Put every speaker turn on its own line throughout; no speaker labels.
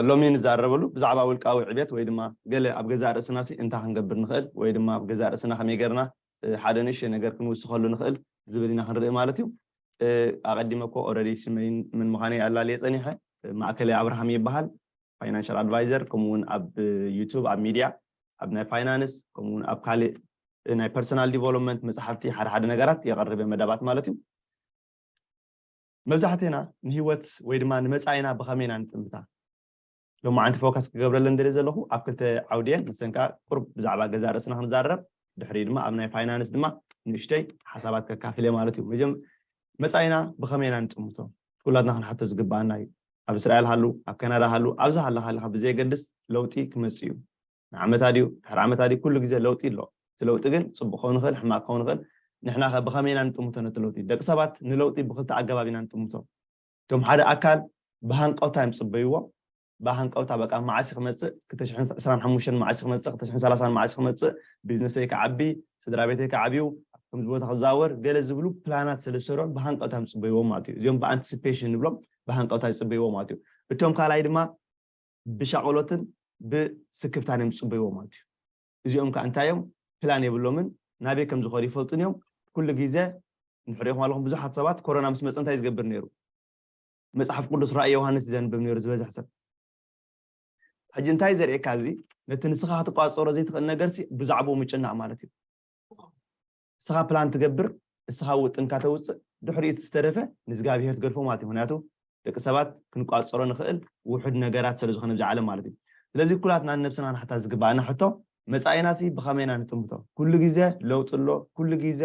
ሎሚ ንዛረበሉ ብዛዕባ ውልቃዊ ዕብየት ወይ ድማ ገለ ኣብ ገዛእ ርእስናሲ እንታይ ክንገብር ንኽእል ወይ ድማ ኣብ ገዛእ ርእስና ከመይ ጌርና ሓደ ንእሽተይ ነገር ክንውስኸሉ ንኽእል ዝብል ኢና ክንርኢ ማለት እዩ። ኣቐዲመ እኮ ኦረዲ ሽመይን መን ምዃነይ ኣላልየ ጸኒሐ። ማእከለይ ኣብርሃም ይበሃል። ፋይናንሻል ኣድቫይዘር ከምኡ እውን ኣብ ዩቱብ ኣብ ሚድያ ኣብ ናይ ፋይናንስ ከምኡ እውን ኣብ ካልእ ናይ ፐርሰናል ዲቨሎፕመንት መጽሓፍቲ ሓደ ሓደ ነገራት የቕርብ እየ መደባት ማለት እዩ። መብዛሕቴና ንህይወት ወይ ድማ ንመጻኢና ብኸመይ ኢና ንጥምታ? ሎማዓንቲ ፎከስ ክገብረለን ደልየ ዘለኹ ኣብ ክልተ ዓውዲ እየን ንሰን ከኣ ቁሩብ ብዛዕባ ገዛእ ርእስና ክንዛረብ ድሕሪኡ ድማ ኣብ ናይ ፋይናንስ ድማ ንእሽተይ ሓሳባት ከካፍል እየ ማለት እዩ መጀም መጻኢና ብኸመይ ኢና ንጥምቶ ኩላትና ክንሓቶ ዝግብኣና እዩ ኣብ እስራኤል ሃሉ ኣብ ካናዳ ሃሉ ኣብዚ ሃለኻ ኣለኻ ብዘየገድስ ለውጢ ክመጽእ እዩ ንዓመት ኣድዩ ድሕሪ ዓመት ኣድዩ ኩሉ ግዜ ለውጢ ኣሎ እቲ ለውጢ ግን ጽቡቅ ክከውን ይክእል ሕማቅ ክከውን ይክእል ንሕና ከ ብከመይ ኢና ንጥምቶ ነቲ ለውጢ ደቂ ሰባት ንለውጢ ብክልተ ኣገባብ ኢና ንጥምቶ እቶም ሓደ ኣካል ብሃንቀውታ እዮም ዝጽበይዎ ብሃንቀውታ በቃ መዓስ እዩ ክመጽእ ክልተ ሽሕን ዕስራን ሓሙሽተን መዓስ እዩ ክመጽእ ክልተ ሽሕን ሰላሳን መዓስ እዩ ክመጽእ ቢዝነሰይ ክዓቢ ስድራቤተይ ክዓብዩ ኣብ ከምዚ ቦታ ክዘዋወር ገለ ዝብሉ ፕላናት ስለ ዝሰልዑን ብሃንቀውታ እዮም ዝጽበይዎም ማለት እዩ እዚኦም ብኣንቲስፔሽን ንብሎም ብሃንቀውታ ይጽበይዎ ማለት እዩ እቶም ካልኣይ ድማ ብሻቕሎትን ብስክፍታን እዮም ዝጽበይዎ ማለት እዩ። እዚኦም ከኣ እንታይ እዮም ፕላን የብሎምን ናበይ ከም ዝኸዱ ይፈልጡን እዮም። ኩሉ ግዜ ንሕሪኹም ኣለኹም ብዙሓት ሰባት ኮሮና ምስ መጸ እንታይ ዝገብር ነይሩ? መጽሓፍ ቅዱስ ራእይ ዮሃንስ እዩ ዘንብብ ነይሩ ዝበዝሕ ሰብ። ሕጂ እንታይ ዘርእየካ እዚ ነቲ ንስኻ ክትቋጸሮ ዘይትኽእል ነገርሲ ብዛዕባኡ ምጭናቕ ማለት እዩ። እስኻ ፕላን ትገብር እስኻ ውጥንካ ተውፅእ ድሕሪኡ እቲ ዝተረፈ ንእዝጋብሄር ትገድፎ ማለት እዩ ምክንያቱ ደቂ ሰባት ክንቋፀሮ ንኽእል ውሑድ ነገራት ስለ ዝኾነ ብዛ ዓለም ማለት እዩ ስለዚ ኩላትና ንነብስና ንሓታ ዝግባኣና ሕቶ መፃኢና ሲ ብኸመይ ኢና ንጥምቶ ኩሉ ግዜ ለውጢ ኣሎ ኩሉ ግዜ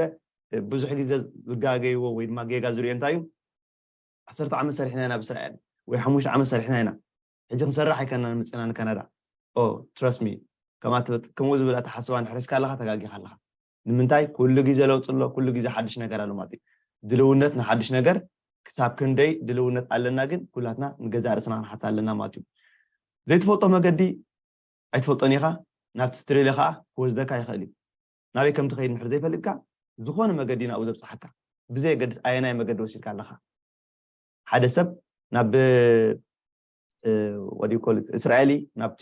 ብዙሕ ግዜ ዝጋገይዎ ወይ ድማ ጌጋ ዝሪኦ እንታይ እዩ ዓሰርተ ዓመት ሰሪሕና ኢና ብእስራኤል ወይ ሓሙሽተ ዓመት ሰሪሕና ኢና ሕጂ ክንሰርሕ ኣይከናን ምፅና ንካናዳ ኦ ትረስሚ ከምኡ ዝብል ኣተሓስባ ንሕረስካ ኣለኻ ተጋጊኻ ኣለኻ ንምንታይ ኩሉ ግዜ ለውጢ ኣሎ ኩሉ ግዜ ሓድሽ ነገር ኣሎ ማለት እዩ ድልውነት ንሓድሽ ነገር ክሳብ ክንደይ ድልውነት ኣለና ግን ኩላትና ንገዛእ ርእስና ክንሓት ኣለና ማለት እዩ ዘይትፈልጦ መገዲ ኣይትፈልጦን ኢኻ ናብቲ ስትሬልዮ ከዓ ክወስደካ ይኽእል እዩ ናበይ ከም ትኸይድ ንድሕር ዘይፈልጥካ ዝኾነ መገዲ ናብኡ ዘብፅሓካ ብዘየገድስ ኣየናይ መገዲ ወሲድካ ኣለኻ ሓደ ሰብ ናብ ወዲ ኮል እስራኤሊ ናብቲ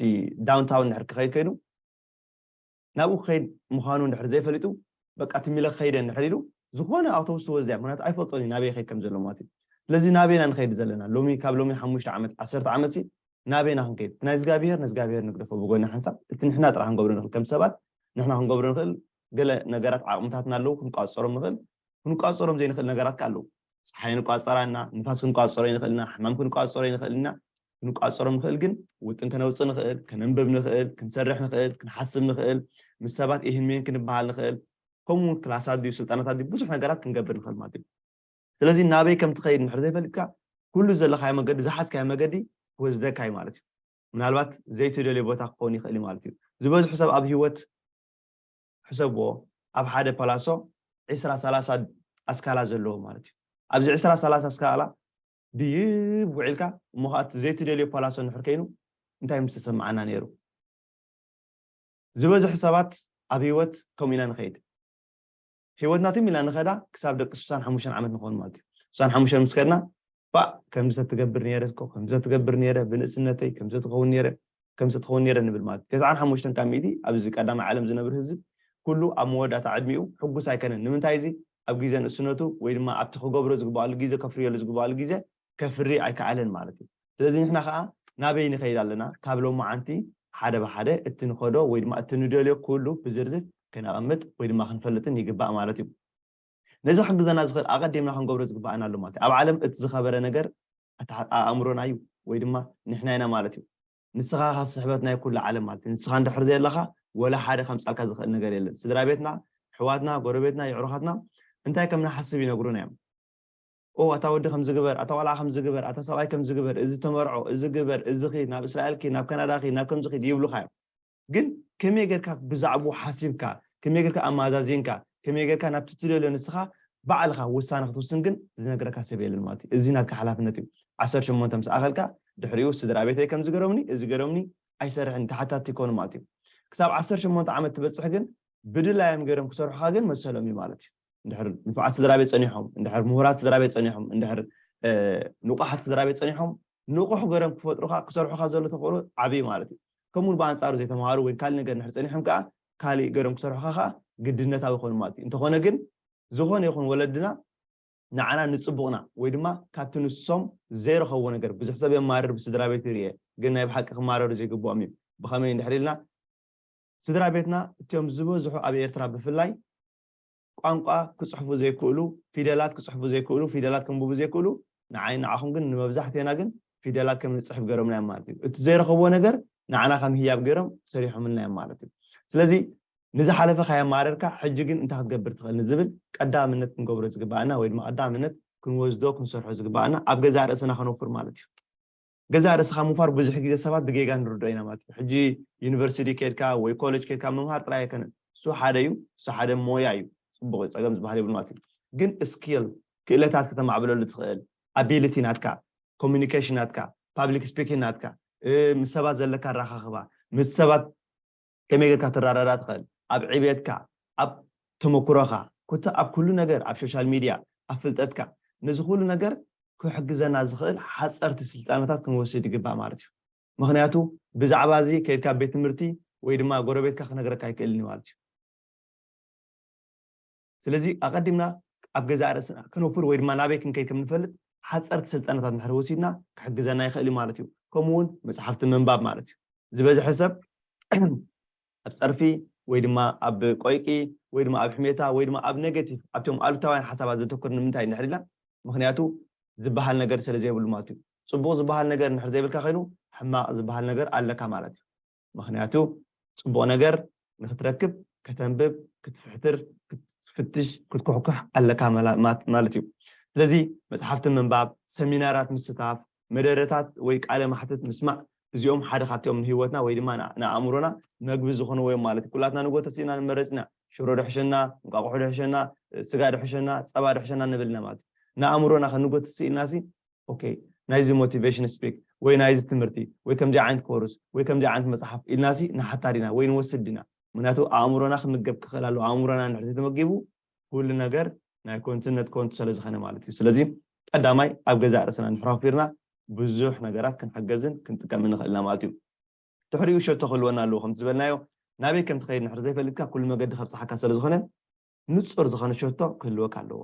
ዳውንታውን ንድሕር ክኸይድ ከይዱ ናብኡ ክኸይድ ምዃኑ እንድሕር ዘይፈሊጡ በቃ ትም ኢለ ክኸይድ እየ እንድሕር ኢሉ ዝኾነ ኣውቶቡስ ትወስድ እያ ምኽንያቱ ኣይፈልጦን እዩ ናበይ ይኸይድ ከም ዘሎ ማለት እዩ ስለዚ ናበይ ኢና ንኸይድ ዘለና ሎሚ ካብ ሎሚ ሓሙሽተ ዓመት ዓሰርተ ዓመት ሲ ናበይ ኢና ክንከይድ እቲ ናይ እግዚኣብሄር ንእግዚኣብሄር ንግደፎ ብጎኒ ሓንሳብ እቲ ንሕና ጥራሕ ክንገብሮ ንኽእል ከም ሰባት ንሕና ክንገብሮ ንኽእል ገለ ነገራት ዓቕምታትና ኣለዉ ክንቋፀሮም ንኽእል ክንቋፀሮም ዘይንኽእል ነገራት ከ ኣለዉ ፀሓይ ንቋፀራ እና ንፋስ ክንቋፀሮ ይንኽእል ኢና ሕማም ክንቋፀሮ ይንኽእል ኢና ክንቋጸሮም ንኽእል ግን ውጥን ከነውጽእ ንኽእል፣ ከነንብብ ንኽእል፣ ክንሰርሕ ንኽእል፣ ክንሓስብ ንኽእል፣ ምስ ሰባት ኢህን ምህን ክንበሃል ንኽእል፣ ከምኡ ውን ክላሳት ድዩ ስልጣነታት ድዩ ብዙሕ ነገራት ክንገብር ንኽእል ማለት እዩ። ስለዚ ናበይ ከም ትኸይድ እንድሕሪ ዘይፈሊጥካ ኩሉ ዘለኻዮ መገዲ ዝሓዝካዮ መገዲ ክወስደካ እዩ ማለት እዩ። ምናልባት ዘይትደልዮ ቦታ ክኸውን ይኽእል እዩ ማለት እዩ። ዝበዝሑ ሰብ ኣብ ህይወት ሕሰብዎ ኣብ ሓደ ፓላሶ ዕስራ ሰላሳ ኣስካላ ዘለዎ ማለት እዩ። ኣብዚ ዕስራ ሰላሳ ኣስካላ ድይብ ውዒልካ እሞ ኸኣ እቲ ዘይትደልዮ ፓላሶ እንድሕር ኴይኑ እንታይ ምስ ተሰምዓና ነይሩ? ዝበዝሕ ሰባት ኣብ ህይወት ከምኡ ኢና ንኸይድ። ህይወትና ትም ኢልና ንኸዳ ክሳብ ደቂ ስሳን ሓሙሽተን ዓመት ንኸውን ማለት እዩ። ስሳን ሓሙሽተን ምስ ከድና ባእ ከምዚ ተትገብር ነይረ እኮ ከምዚ ተትገብር ነይረ ብንእስነተይ ከምዚ ተትኸውን ነይረ ከምዚ ክኸውን ነይረ ንብል ማለት እዩ። ተስዓን ሓሙሽተን ካብ ሚእቲ ኣብዚ ቀዳማይ ዓለም ዝነብር ህዝብ ኩሉ ኣብ መወዳእታ ዕድሚኡ ሕጉስ ኣይከነን። ንምንታይ እዚ ኣብ ጊዘ ንእስነቱ ወይ ድማ ኣብቲ ክገብሮ ዝግበኣሉ ጊዘ ከፍርየሉ ዝግበኣሉ ጊዘ ከፍሪ ኣይከኣለን ማለት እዩ። ስለዚ ንሕና ከኣ ናበይ ንኸይድ ኣለና ካብ ሎማዓንቲ ሓደ ብሓደ እቲ ንኸዶ ወይ ድማ እቲ ንደልዮ ኩሉ ብዝርዝር ከነቐምጥ ወይ ድማ ክንፈልጥን ይግባእ ማለት እዩ። ነዚ ክሕግዘና ዝኽእል ኣቐዲምና ክንገብሮ ዝግበኣና ኣሎ ማለት እዩ። ኣብ ዓለም እቲ ዝኸበረ ነገር ኣእምሮና እዩ ወይ ድማ ንሕና ኢና ማለት እዩ። ንስኻ ኢኻ ስሕበት ናይ ኩሉ ዓለም ማለት እዩ። ንስኻ እንድሕር ዘየለኻ ወላ ሓደ ከምጽኣልካ ዝኽእል ነገር የለን። ስድራ ቤትና፣ ኣሕዋትና፣ ጎረቤትና፣ የዕሩኻትና እንታይ ከም ንሓስብ ይነግሩና እዮም። ኦ ኣታ ወዲ ከምዚ ግበር፣ ኣታ ቆልዓ ከምዚ ግበር፣ ኣታ ሰብኣይ ከምዚ ግበር፣ እዚ ተመርዖ፣ እዚ ግበር፣ እዚ ኺድ፣ ናብ እስራኤል ኪድ፣ ናብ ካናዳ ኺድ፣ ናብ ከምዚ ኺድ ይብሉኻ እዮም። ግን ከመይ ጌርካ ብዛዕብኡ ሓሲብካ፣ ከመይ ጌርካ ኣመዛዚንካ፣ ከመይ ጌርካ ናብቲ ትደልዮ ንስኻ ባዕልኻ ውሳነ ክትውስን ግን ዝነግረካ ሰብ የለን ማለት እዩ። እዚ ናትካ ሓላፍነት እዩ። ዓሰርተ ሸሞንተ ምስ ኣኸልካ ድሕሪኡ ስድራቤተይ ከምዚ ገሮምኒ እዚ ገሮምኒ ኣይሰርሕን ተሓታቲ ይኮኑ ማለት እዩ። ክሳብ ዓሰርተ ሸሞንተ ዓመት ትበጽሕ ግን ብድላዮም ጌሮም ክሰርሑኻ ግን መሰሎም እዩ ማለት እዩ። እንድሕር ንፉዓት ስድራቤት ጸኒሖም፣ እንድሕር ምሁራት ስድራቤት ጸኒሖም፣ እንድሕር ንቑሓት ስድራቤት ጸኒሖም ንቑሕ ጌሮም ክፈጥሩኻ ክሰርሑኻ ዘሎ ተኽእሎ ዓቢ እዩ ማለት እዩ። ከምኡውን ብኣንጻሩ ዘይተማሃሩ ወይ ካልእ ነገር እንድሕር ጸኒሖም ከኣ ካልእ ገሮም ክሰርሑኻ ከኣ ግድነታዊ ይኾኑ ማለት እዩ እንተኾነ ግን ዝኾነ ይኹን ወለድና ንዓና ንጽቡቕና ወይ ድማ ካብቲ ንሶም ዘይረኸብዎ ነገር ብዙሕ ሰብ የማርር ብስድራ ቤት ይርኤ ግን ናይ ብሓቂ ክማረሩ ዘይግብኦም እዩ ብኸመይ እንድሕር ኢልና ስድራ ቤትና እትኦም ዝበዝሑ ኣብ ኤርትራ ብፍላይ ቋንቋ ክጽሕፉ ዘይክእሉ፣ ፊደላት ክጽሕፉ ዘይክእሉ፣ ፊደላት ከንብቡ ዘይክእሉ፣ ንዓይን ንዓኹም ግን ንመብዛሕቴና ግን ፊደላት ከም ንጽሕፍ ገሮምናዮም ማለት እዩ። እቲ ዘይረኸብዎ ነገር ንዓና ከም ህያብ ገሮም ሰሪሖምልናዮም ማለት እዩ። ስለዚ ንዝሓለፈ ካየማረርካ ሕጂ ግን እንታይ ክትገብር ትኽእል ንዝብል ቀዳምነት ክንገብሮ ዝግባኣና ወይ ድማ ቀዳምነት ክንወስዶ ክንሰርሖ ዝግባኣና ኣብ ገዛእ ርእስና ከነውፍር ማለት እዩ። ገዛእ ርእስኻ ምውፋር ብዙሕ ግዜ ሰባት ብጌጋ ንርድኦ ኢና ማለት እዩ ሕጂ ዩኒቨርሲቲ ኬድካ ወይ ኮለጅ ኬድካ ምምሃር ጥራይ ኣይከነን እሱ ሓደ እዩ እሱ ሓደ ሞያ እዩ ጽቡቕ እዩ ጸገም ዝበሃል የብሉን ማለት እዩ ግን ስኪል ክእለታት ከተማዕብለሉ ትኽእል ኣቢሊቲ ናትካ ኮሙኒኬሽን ናትካ ፓብሊክ ስፒኪን ናትካ ምስ ሰባት ዘለካ ኣራኻኽባ ምስ ሰባት ከመይ ጌርካ ትራዳዳ ትኽእል ኣብ ዕብየትካ ኣብ ተመኩሮኻ ኮታ ኣብ ኩሉ ነገር ኣብ ሾሻል ሚድያ ኣብ ፍልጠትካ ነዚ ኩሉ ነገር ክሕግዘና ዝኽእል ሓጸርቲ ስልጣነታት ክንወስድ ይግባእ ማለት እዩ ምኽንያቱ ብዛዕባ እዚ ከይድካ ኣብ ቤት ትምህርቲ ወይ ድማ ጎረቤትካ ክነግረካ ኣይክእልን እዩ ማለት እዩ። ስለዚ ኣቐዲምና ኣብ ገዛእ ርእስና ክነውፍር ወይ ድማ ናበይ ክንከይድ ከም እንፈልጥ ሓጸርቲ ስልጠናታት እንድሕር ወሲድና ክሕግዘና ይኽእል እዩ ማለት እዩ። ከምኡ እውን መጽሓፍቲ ምንባብ ማለት እዩ። ዝበዝሐ ሰብ ኣብ ጸርፊ ወይ ድማ ኣብ ቆይቂ ወይ ድማ ኣብ ሕሜታ ወይ ድማ ኣብ ኔጌቲቭ ኣብቶም ኣሉታውያን ሓሳባት ዘተኩር ንምንታይ እንድሕር ኢልና ምክንያቱ ዝበሃል ነገር ስለ ዘይብሉ ማለት እዩ። ጽቡቕ ዝበሃል ነገር እንድሕር ዘይብልካ ኮይኑ ሕማቕ ዝበሃል ነገር ኣለካ ማለት እዩ። ምኽንያቱ ጽቡቕ ነገር ንኽትረክብ ከተንብብ፣ ክትፍሕትር፣ ክትፍትሽ፣ ክትኩሕኩሕ ኣለካ ማለት እዩ። ስለዚ መጽሓፍቲ ምንባብ፣ ሰሚናራት ምስታፍ፣ መደረታት ወይ ቃለ ማሕትት ምስማዕ እዚኦም ሓደ ካብቲኦም ንህይወትና ወይ ድማ ንኣእምሮና መግቢ ዝኾንዎ እዮም ማለት እዩ። ኩላትና ንጎ ተሲእና ንመረጽ ኢና። ሽሮ ድሕሸና፣ እንቋቑሖ ድሕሸና፣ ስጋ ድሕሸና፣ ጸባ ድሕሸና ንብል ኢና ማለት እዩ። ንኣእምሮና ከንጎትስ ኢልናሲ ok ናይዚ ሞቲቬሽን ስፒክ ወይ ናይዚ ትምህርቲ ወይ ከምዚ ዓይነት ኮርስ ወይ ከምዚ ዓይነት መጽሓፍ ኢልና ሲ ንሓታ ዲና ወይ ንወስድ ዲና ምክንያቱ ኣእምሮና ክምገብ ክኽእል ኣለዎ ኣእምሮና እንድሕር ተመጊቡ ኩሉ ነገር ናይ ኮንቱነት ኮንቱ ስለ ዝኸነ ማለት እዩ ስለዚ ቀዳማይ ኣብ ገዛእ ርእስና ንሕራፊርና ብዙሕ ነገራት ክንሕገዝን ክንጥቀም ንኽእል ኢና ማለት እዩ ድሕሪኡ ሸቶ ክህልወና ኣለዎ ከምቲ ዝበልናዮ ናበይ ከም ትኸይድ ንሕር ዘይፈልጥካ ኩሉ መገዲ ከብፅሓካ ስለ ዝኾነ ንፁር ዝኾነ ሸቶ ክህልወካ ኣለዎ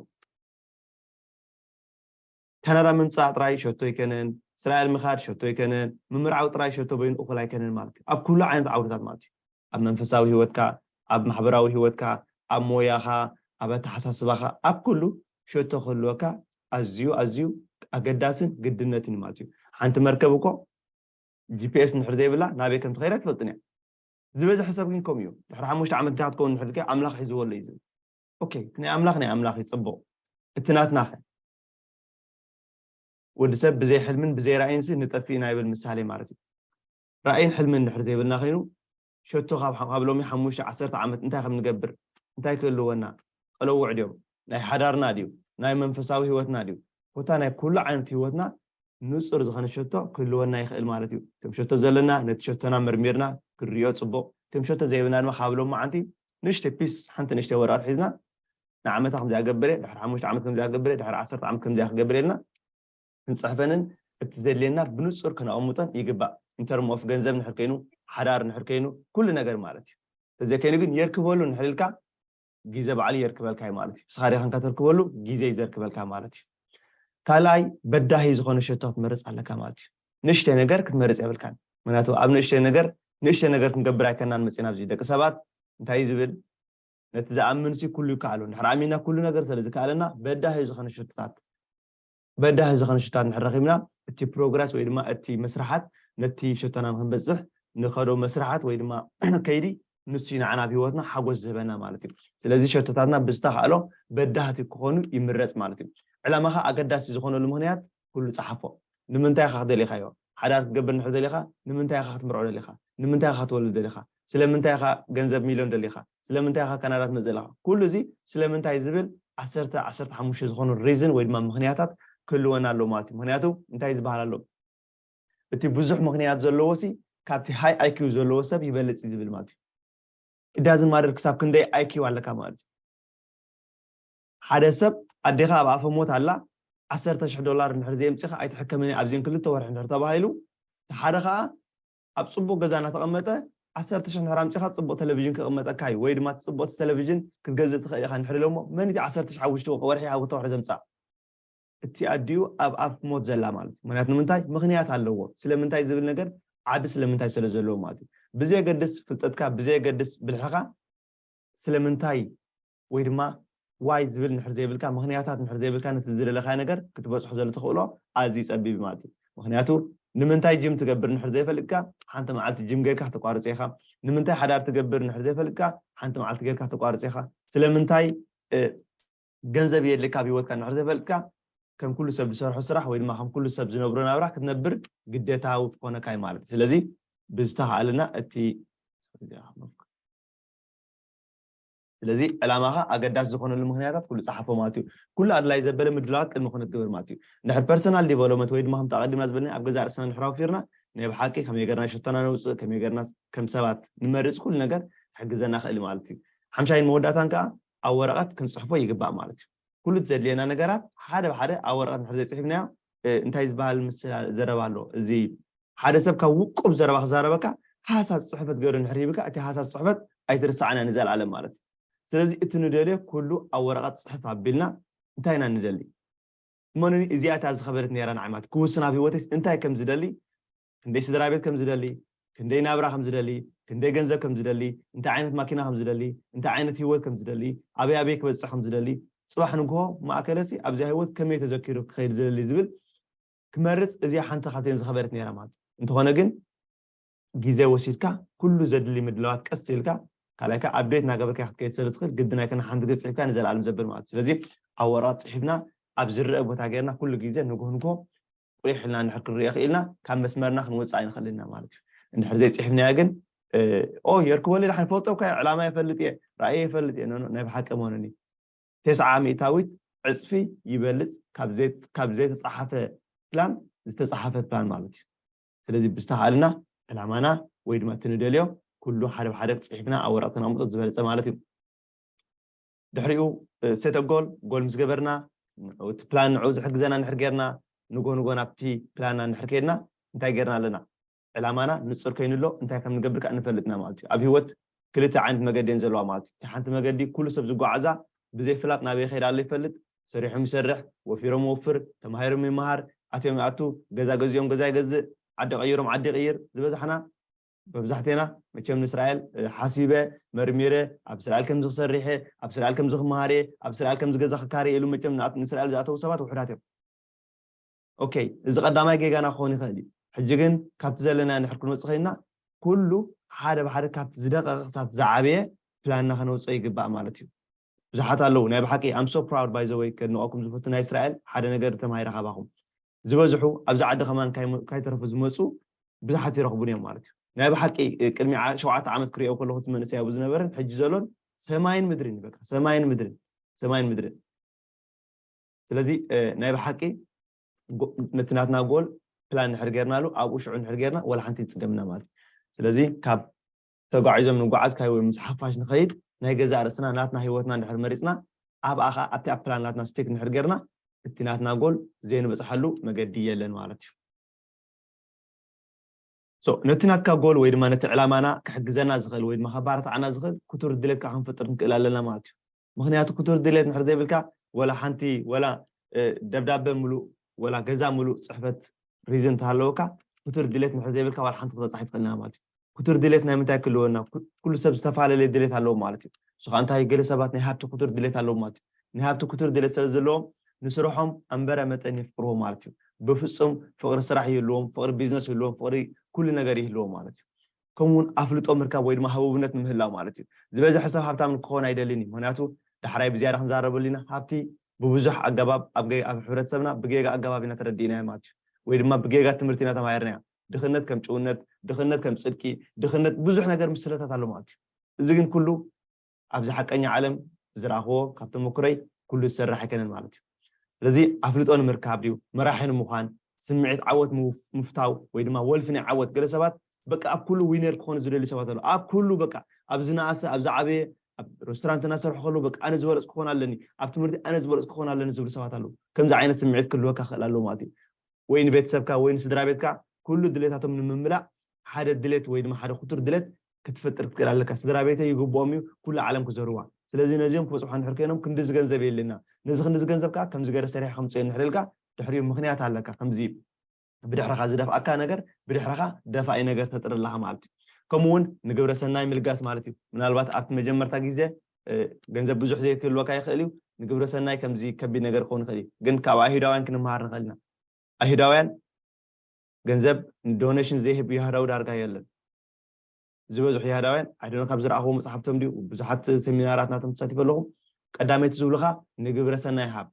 ካናዳ ምምጻእ ጥራይ ሸቶ ኣይከነን፣ እስራኤል ምኻድ ሸቶ ኣይከነን፣ ምምርዓው ጥራይ ሸቶ በይኑ እኹል ኣይከነን ማለት እዩ። ኣብ ኩሉ ዓይነት ዓውድታት ማለት እዩ። ኣብ መንፈሳዊ ህይወትካ፣ ኣብ ማሕበራዊ ህይወትካ፣ ኣብ ሞያኻ፣ ኣብ ኣተሓሳስባኻ፣ ኣብ ኩሉ ሸቶ ክህልወካ ኣዝዩ ኣዝዩ ኣገዳስን ግድነትን እዩ ማለት እዩ። ሓንቲ መርከብ እኮ ጂፒኤስ እንድሕር ዘይብላ ናበይ ከም ትኸይድ ኣይትፈልጥን እያ። ዝበዝሐ ሰብ ግን ከምኡ እዩ። ድሕሪ ሓሙሽተ ዓመት እንታይ ክትከውን እንድሕር ኢልካዮ ኣምላኽ ሒዝዎ ኣሎ እዩ ዝብል። ኦኬ ናይ ኣምላኽ ናይ ኣምላኽ እዩ ጽቡቕ እቲ ናትናኸ ወዲ ሰብ ብዘይ ሕልምን ብዘይ ራእይንሲ ንጠፍእ ኢና ይብል ምሳሌ ማለት እዩ ራእይን ሕልምን ድሕር ዘይብልና ኮይኑ ሸቶ ካብ ኣብ ሎሚ ሓሙሽተ ዓሰርተ ዓመት እንታይ ከም ንገብር እንታይ ክህልወና ቀለውዕ ድዮም ናይ ሓዳርና ድዩ ናይ መንፈሳዊ ህይወትና ድዩ ኮታ ናይ ኩሉ ዓይነት ህይወትና ንጹር ዝኾነ ሸቶ ክህልወና ይኽእል ማለት እዩ ከም ሸቶ ዘለና ነቲ ሸቶና መርሚርና ክንሪኦ ጽቡቕ ከም ሸቶ ዘይብልና ድማ ካብ ሎም መዓንቲ ንእሽተይ ፒስ ሓንቲ ንእሽተይ ወረቀት ሒዝና ንዓመታ ከምዚኣ ገብረ ድሕሪ ሓሙሽተ ዓመት ከምዚኣ ገብረ ድሕሪ ዓሰርተ ዓመት ከምዚኣ ክገብር ኢልና ክንጽሕፈንን እቲ ዘድልየና ብንጹር ከነቐምጦን ይግባእ ኢንተርም ኦፍ ገንዘብ ንሕር ከይኑ ሓዳር ንሕር ከይኑ ኩሉ ነገር ማለት እዩ ተዘይከይኑ ግን የርክበሉ ንሕር ኢልካ ግዜ ባዕሉ የርክበልካ እዩ ማለት እዩ ንስኻ ሪኻንካ ተርክበሉ ግዜ እዩ ዘርክበልካ ማለት እዩ ካልኣይ በዳሂ ዝኾነ ሸቶ ክትመርፅ ኣለካ ማለት እዩ ንእሽተይ ነገር ክትመርጽ የብልካን ምክንያቱ ኣብ ንእሽተይ ነገር ንእሽተይ ነገር ክንገብር ኣይከናን መጺና ኣብዚ ደቂ ሰባት እንታይ እዩ ዝብል ነቲ ዝኣምን ሲ ኩሉ ይከኣሎ እንድሕር ኣሚና ኩሉ ነገር ስለ ዝከኣለና በዳሂ ዝኸነ ሽቶታት በዳሂ ዝኸነ ሽቶታት እንድሕር ረኺብና እቲ ፕሮግረስ ወይ ድማ እቲ መስርሓት ነቲ ሸቶና ንክንበጽሕ ንኸዶ መስርሓት ወይ ድማ ከይዲ ንሱ ንዓና ኣብ ሂወትና ሓጎስ ዝህበና ማለት እዩ ስለዚ ሸቶታትና ብዝተኻእሎ በዳህቲ ክኾኑ ይምረጽ ማለት እዩ ዕላማኻ ኣገዳሲ ዝኾነሉ ምክንያት ኩሉ ጸሓፎ። ንምንታይ ኢኻ ደሊኻዮ? ሓዳር ክትገብር እንድሕር ደሊኻ ንምንታይ ኢኻ ክትምርዖ ደሊኻ? ንምንታይ ኢኻ ክትወልድ ደሊኻ? ስለምንታይ ኢኻ ገንዘብ ሚልዮን ደሊኻ? ስለምንታይ ኢኻ ካናዳ ትመጽእ ዘለኻ? ኩሉ እዚ ስለምንታይ ዝብል ዓሰርተ፣ ዓሰርተ ሓሙሽተ ዝኾኑ ሪዝን ወይ ድማ ምኽንያታት ክህልወና ኣለዎ ማለት እዩ። ምኽንያቱ እንታይ ዝበሃል ኣሎ እቲ ብዙሕ ምኽንያት ዘለዎሲ ካብቲ ሃይ ኣይኪው ዘለዎ ሰብ ይበልጽ እዩ ዝብል ማለት እዩ። ኢት ዳዝንት ማተር ክሳብ ክንደይ ኣይኪው ኣለካ ማለት እዩ። ሓደ ሰብ ኣዴኻ ኣብ ኣፈ ሞት ኣላ ዓሰርተ ሽሕ ዶላር እንድሕር ዘየምጺኻ ኣይትሕከምን እያ ኣብዚን ክልተ ወርሒ እንድሕር ተባሂሉ እቲ ሓደ ኸኣ ኣብ ጽቡቕ ገዛ እናተቐመጠ ዓሰርተ ሽሕ እንድሕር ኣምጺኻ ጽቡቕ ተለቪዥን ክቕመጠካ እዩ ወይ ድማ እቲ ጽቡቕቲ ተለቪዥን ክትገዝእ ትኽእል ኢኻ እንድሕር ኢሎሞ መን እዩ እቲ ዓሰርተ ሽሕ ኣብ ውሽጢ ወርሒ ኣብ ክልተ ወርሒ ዘምጽኣ እቲ ኣዲኡ ኣብ ኣፍ ሞት ዘላ ማለት እዩ ምክንያቱ ንምንታይ ምክንያት ኣለዎ ስለምንታይ ዝብል ነገር ዓቢ ስለምንታይ ስለ ዘለዎ ማለት እዩ ብዘየገድስ ፍልጠትካ ብዘየገድስ ብልሕኻ ስለምንታይ ወይ ድማ ዋይ ዝብል እንድሕር ዘይብልካ፣ ምኽንያታት እንድሕር ዘይብልካ ነቲ ዝደለኻዮ ነገር ክትበጽሖ ዘሎ ተኽእሎ ኣዝዩ ጸቢብ እዩ ማለት እዩ። ምኽንያቱ ንምንታይ ጅም ትገብር እንድሕር ዘይፈልጥካ ሓንቲ መዓልቲ ጅም ጌርካ ክተቋርጾ ኢኻ። ንምንታይ ሓዳር ትገብር እንድሕር ዘይፈልጥካ ሓንቲ መዓልቲ ጌርካ ክተቋርጾ ኢኻ። ስለምንታይ ገንዘብ የድልየካ ኣብ ህይወትካ እንድሕር ዘይፈልጥካ ከም ኩሉ ሰብ ዝሰርሖ ስራሕ ወይ ድማ ከም ኩሉ ሰብ ዝነብሮ ናብራ ክትነብር ግዴታዊ ክኾነካ እዩ ማለት እዩ። ስለዚ ብዝተኻእለና እቲ ስለዚ ዕላማኻ ኣገዳሲ ዝኾነሉ ምኽንያታት ኩሉ ጸሓፎ ማለት እዩ። ኩሉ ኣድላዪ ዘበለ ምድላዋት ቅድሚ ክንገብር ማለት እዩ። እንድሕር ፐርሰናል ዲቨሎመንት ወይ ድማ ከምቲ ኣቐዲምና ዝበልናዮ ኣብ ገዛእ ርእስና እንድሕር ኣውፊርና ናይ ብሓቂ ከመይ ጌርና ሸቶና ነውጽእ፣ ከመይ ጌርና ከም ሰባት ንመርጽ ኩሉ ነገር ክሕግዘና ይኽእል እዩ ማለት እዩ። ሓምሻይን መወዳእታን ከኣ ኣብ ወረቐት ክንጽሕፎ ይግባእ ማለት እዩ። ኩሉ እቲ ዘድልየና ነገራት ሓደ ብሓደ ኣብ ወረቐት እንድሕር ዘይጽሒፍናዮ እንታይ ዝበሃል ምስላ ዘረባ ኣሎ እዚ ሓደ ሰብ ካብ ውቁብ ዘረባ ክዛረበካ ሃሳስ ጽሕፈት ገይሩ እንድሕር ሂብካ እቲ ሃሳስ ጽሕፈት ኣይትርስዓና ንዘልኣለም ማለት እዩ ስለዚ እቲ ንደልዮ ኩሉ ኣብ ወረቐት ጽሕፍ ኣቢልና እንታይ ኢና ንደሊ እመኑኒ እዚኣ እታ ዝኸበደት ነይራ ንዓይ ማለት ክውስን ኣብ ህይወተይስ እንታይ ከም ዝደሊ ክንደይ ስድራቤት ከም ዝደሊ፣ ክንደይ ናብራ ከም ዝደሊ፣ ክንደይ ገንዘብ ከም ዝደሊ፣ እንታይ ዓይነት ማኪና ከም ዝደሊ፣ እንታይ ዓይነት ህይወት ከም ዝደሊ፣ ኣበይ ኣበይ ክበጽሕ ከም ዝደሊ፣ ጽባሕ ንግሆ ማእከለሲ ኣብዚኣ ህይወት ከመይ ተዘኪሩ ክኸይድ ዝደሊ ዝብል ክመርጽ እዚኣ ሓንቲ ካብተን ዝኸበደት ነይራ ማለት እዩ። እንተኾነ ግን ግዜ ወሲድካ ኩሉ ዘድሊ ምድላዋት ቀስ ኢልካ ካልኣይ ከኣ ኣብዴት እናገበርካ ኢኻ ክትከይድ ስለ ትኽእል ግድን ኣይኮነን ሓንቲ ግዜ ጽሒፍካ ንዘለኣለም ዘብል ማለት እዩ። ስለዚ ኣብ ወረቐት ጽሒፍና ኣብ ዝረኣ ቦታ ጌርና ኩሉ ግዜ ንግሆ ንግሆ ቊሕ ኢልና እንድሕር ክንርእዮ ክኢልና ካብ መስመርና ክንወጽእ ኣይንኽእልን ኢና ማለት እዩ። እንድሕር ዘይጺሕፍናዮ ግን ኦይ የርክቦ ሊላ ይፈልጦ እኳ እየ ዕላማይ ይፈልጥ እየ ራእየይ ይፈልጥ እየ ኖኖ ናይ ብሓቂ ኣይመሆንን እዩ ቴስዓ ሚእታዊት ዕጽፊ ይበልጽ ካብ ዘይተጻሓፈ ፕላን ዝተጻሓፈ ፕላን ማለት እዩ ስለዚ ብዝተኻእልና ዕላማና ወይ ድማ እቲ ንደልዮ ኩሉ ሓደ ብሓደ ጽሒፍና ኣብ ወረቐት ክነቕምጦ ዝበለጸ ማለት እዩ። ድሕሪኡ set a goal ጎል ምስ ገበርና እቲ ፕላን ንዕኡ ዝሕግዘና እንድሕር ጌርና ንጎ ንጎ ናብቲ ፕላንና እንድሕር ከይድና እንታይ ጌርና ኣለና ዕላማና ንጹር ከይኑ ኣሎ እንታይ ከም ንገብር ከኣ ንፈልጥ ኢና ማለት እዩ ኣብ ሂወት ክልተ ዓይነት መገዲ እየን ዘለዋ ማለት እዩ እታ ሓንቲ መገዲ ኩሉ ሰብ ዝጓዓዛ ብዘይ ፍላጥ ናበይ ይኸይድ ኣሎ ይፈልጥ ሰሪሖም ይሰርሕ ወፊሮም ይወፍር ተማሂሮም ይመሃር ኣትዮም ይኣቱ ገዛ ገዚኦም ገዛ ይገዝእ ዓዲ ቀይሮም ዓዲ ይቕይር ዝበዛሕና መብዛሕቴና መቸም ንስራኤል ሓሲበ መርሚረ ኣብ ስራኤል ከምዚ ክሰርሕየ ኣብ ስራኤል ከምዚ ክመሃርየ ኣብ ስራኤል ከምዚ ገዛ ክካርየ ኢሉ መቸም ንስራኤል ዝኣተዉ ሰባት ውሑዳት እዮም ኦከይ እዚ ቀዳማይ ጌጋና ክኾን ይኽእል እዩ ሕጂ ግን ካብቲ ዘለና ንሕር ክንወፅእ ከይንና ኩሉ ሓደ ብሓደ ካብቲ ዝደቀቀ ክሳብቲ ዝዓበየ ፕላንና ከነውፅኦ ይግባእ ማለት እዩ ብዙሓት ኣለዉ ናይ ብሓቂ I'm so proud by the way ከድንቀኩም ዝፈቱ ናይ እስራኤል ሓደ ነገር ተማሂረ ካባኹም ዝበዝሑ ኣብዚ ዓዲ ከማን ካይተረፉ ዝመጹ ብዙሓት ይረኽቡኒ እዮም ማለት እዩ ናይ ብሓቂ ቅድሚ ሸውዓተ ዓመት ክሪኦ ከለኹ እቲ መንእሰይ ኣብኡ ዝነበረን ሕጂ ዘሎን ሰማይን ምድርን በቃ ሰማይን ምድርን ሰማይን ምድርን ስለዚ ናይ ብሓቂ ነቲ ናትና ጎል ፕላን ንሕር ጌርናሉ ኣብኡ ሽዑ ንሕር ጌርና ወላ ሓንቲ ይፅገምና ማለት እዩ ስለዚ ካብ ተጓዒዞም ንጉዓዝ ካይ ወይ ምስ ሓፋሽ ንኸይድ ናይ ገዛእ ርእስና ናትና ህይወትና እንድሕር መሪጽና ኣብኣ ከኣ ኣብቲ ኣብ ፕላን ናትና ስቲክ እንድሕር ጌርና እቲ ናትና ጎል ዘይንበጽሓሉ መገዲ የለን ማለት እዩ። ሶ ነቲ ናትካ ጎል ወይ ድማ ነቲ ዕላማና ክሕግዘና ዝኽእል ወይ ድማ ከባራታዓና ዝኽእል ክቱር ድሌት ከኣ ክንፈጥር ንክእል ኣለና ማለት እዩ። ምኽንያቱ ክቱር ድሌት እንድሕር ዘይብልካ ወላ ሓንቲ ወላ ደብዳበ ምሉእ ወላ ገዛ ምሉእ ፅሕፈት ሪዝን እንተሃለወካ ክቱር ድሌት እንድሕር ዘይብልካ ዋላ ሓንቲ ክትበፅሕ ኣይትኽእልን ኢኻ ማለት እዩ ክቱር ድሌት ናይ ምንታይ ክህልወና ኩሉ ሰብ ዝተፈላለየ ድሌት ኣለዎ ማለት እዩ እሱ ከዓ እንታይ ገለ ሰባት ናይ ሃብቲ ክቱር ድሌት ኣለዎ ማለት እዩ ናይ ሃብቲ ክቱር ድሌት ስለ ዘለዎም ንስርሖም ኣንበረ መጠን የፍቅርዎ ማለት እዩ ብፍፁም ፍቅሪ ስራሕ ይህልዎም ፍቅሪ ቢዝነስ ይህልዎም ፍቅሪ ኩሉ ነገር ይህልዎም ማለት እዩ ከምኡውን ኣፍልጦ ምርካብ ወይ ድማ ህቡብነት ንምህላው ማለት እዩ። ዝበዝሐ ሰብ ሃብታም ንክኸውን ኣይደልን እዩ፣ ምኽንያቱ ዳሕራይ ብዝያዳ ክንዛረበሉ ኢና፣ ሃብቲ ብብዙሕ ኣገባብ ኣብ ኣብ ሕብረተሰብና ብጌጋ ኣገባብ ኢና ተረዲእናዮ ማለት እዩ፣ ወይ ድማ ብጌጋ ትምህርቲ ኢና ተማሂርናዮ። ድኽነት ከም ጭውነት፣ ድኽነት ከም ጽድቂ፣ ድኽነት ብዙሕ ነገር ምስለታት ኣሎ ማለት እዩ። እዚ ግን ኩሉ ኣብዚ ሓቀኛ ዓለም ዝረኣኽዎ ካብ ተመኩረይ ኩሉ ዝሰርሕ ኣይከነን ማለት እዩ ስለዚ ኣፍልጦ ንምርካብ ድዩ መራሒ ንምዃን ስምዒት ዓወት ምፍታው ወይ ድማ ወልፊ ናይ ዓወት ገለ ሰባት በቃ ኣብ ኩሉ ዊነር ክኾኑ ዝደልዩ ሰባት ኣለዉ ኣብ ኩሉ በቃ ኣብ ዝነኣሰ ኣብ ዝዓበየ ኣብ ሬስቶራንት እናሰርሑ ከለዉ በቃ ኣነ ዝበለፅ ክኾን ኣለኒ ኣብ ትምህርቲ ኣነ ዝበለፅ ክኾን ኣለኒ ዝብሉ ሰባት ኣለዉ ከምዚ ዓይነት ስምዒት ክህልወካ ክእል ኣለዎ ማለት እዩ ወይ ንቤተሰብካ ወይ ንስድራ ቤትካ ኩሉ ድሌታቶም ንምምላእ ሓደ ድሌት ወይ ድማ ሓደ ክቱር ድሌት ክትፈጥር ክትክእል ኣለካ ስድራቤተይ ይግብኦም እዩ ኩሉ ዓለም ክዘርዋ ስለዚ ነዚኦም ክበጽሖ እንድሕር ኮይኖም ክንድዚ ገንዘብ የድልየና ነዚ ክንድዚ ገንዘብ ከኣ ከምዚ ገረ ሰሪሐ ከምጽኦ እንድሕር ኢልካ ድሕሪኡ ምክንያት ኣለካ ከምዚ ብድሕርካ ዝደፍኣካ ነገር ብድሕርካ ደፋኢ ነገር ተጥሪ ኣለካ ማለት እዩ ከምኡ ውን ንግብረ ሰናይ ምልጋስ ማለት እዩ ምናልባት ኣብቲ መጀመርታ ግዜ ገንዘብ ብዙሕ ዘይክህልወካ ይክእል እዩ ንግብረ ሰናይ ከምዚ ከቢድ ነገር ክኸውን ይክእል እዩ ግን ካብ ኣይሁዳውያን ክንምሃር ንክእል ኢና ኣይሁዳውያን ገንዘብ ዶኔሽን ዘይህብ ይሁዳዊ ዳርጋ የለን ዝበዝሑ ይሃዳውያን ኣይ ዶኖ ካብ ዝረኣኽዎ መጽሓፍቶም ድዩ ብዙሓት ሰሚናራት ናቶም ተሳቲፈ ኣለኹ ቀዳመይቲ ዝብሉኻ ንግብረ ሰናይ ሃብ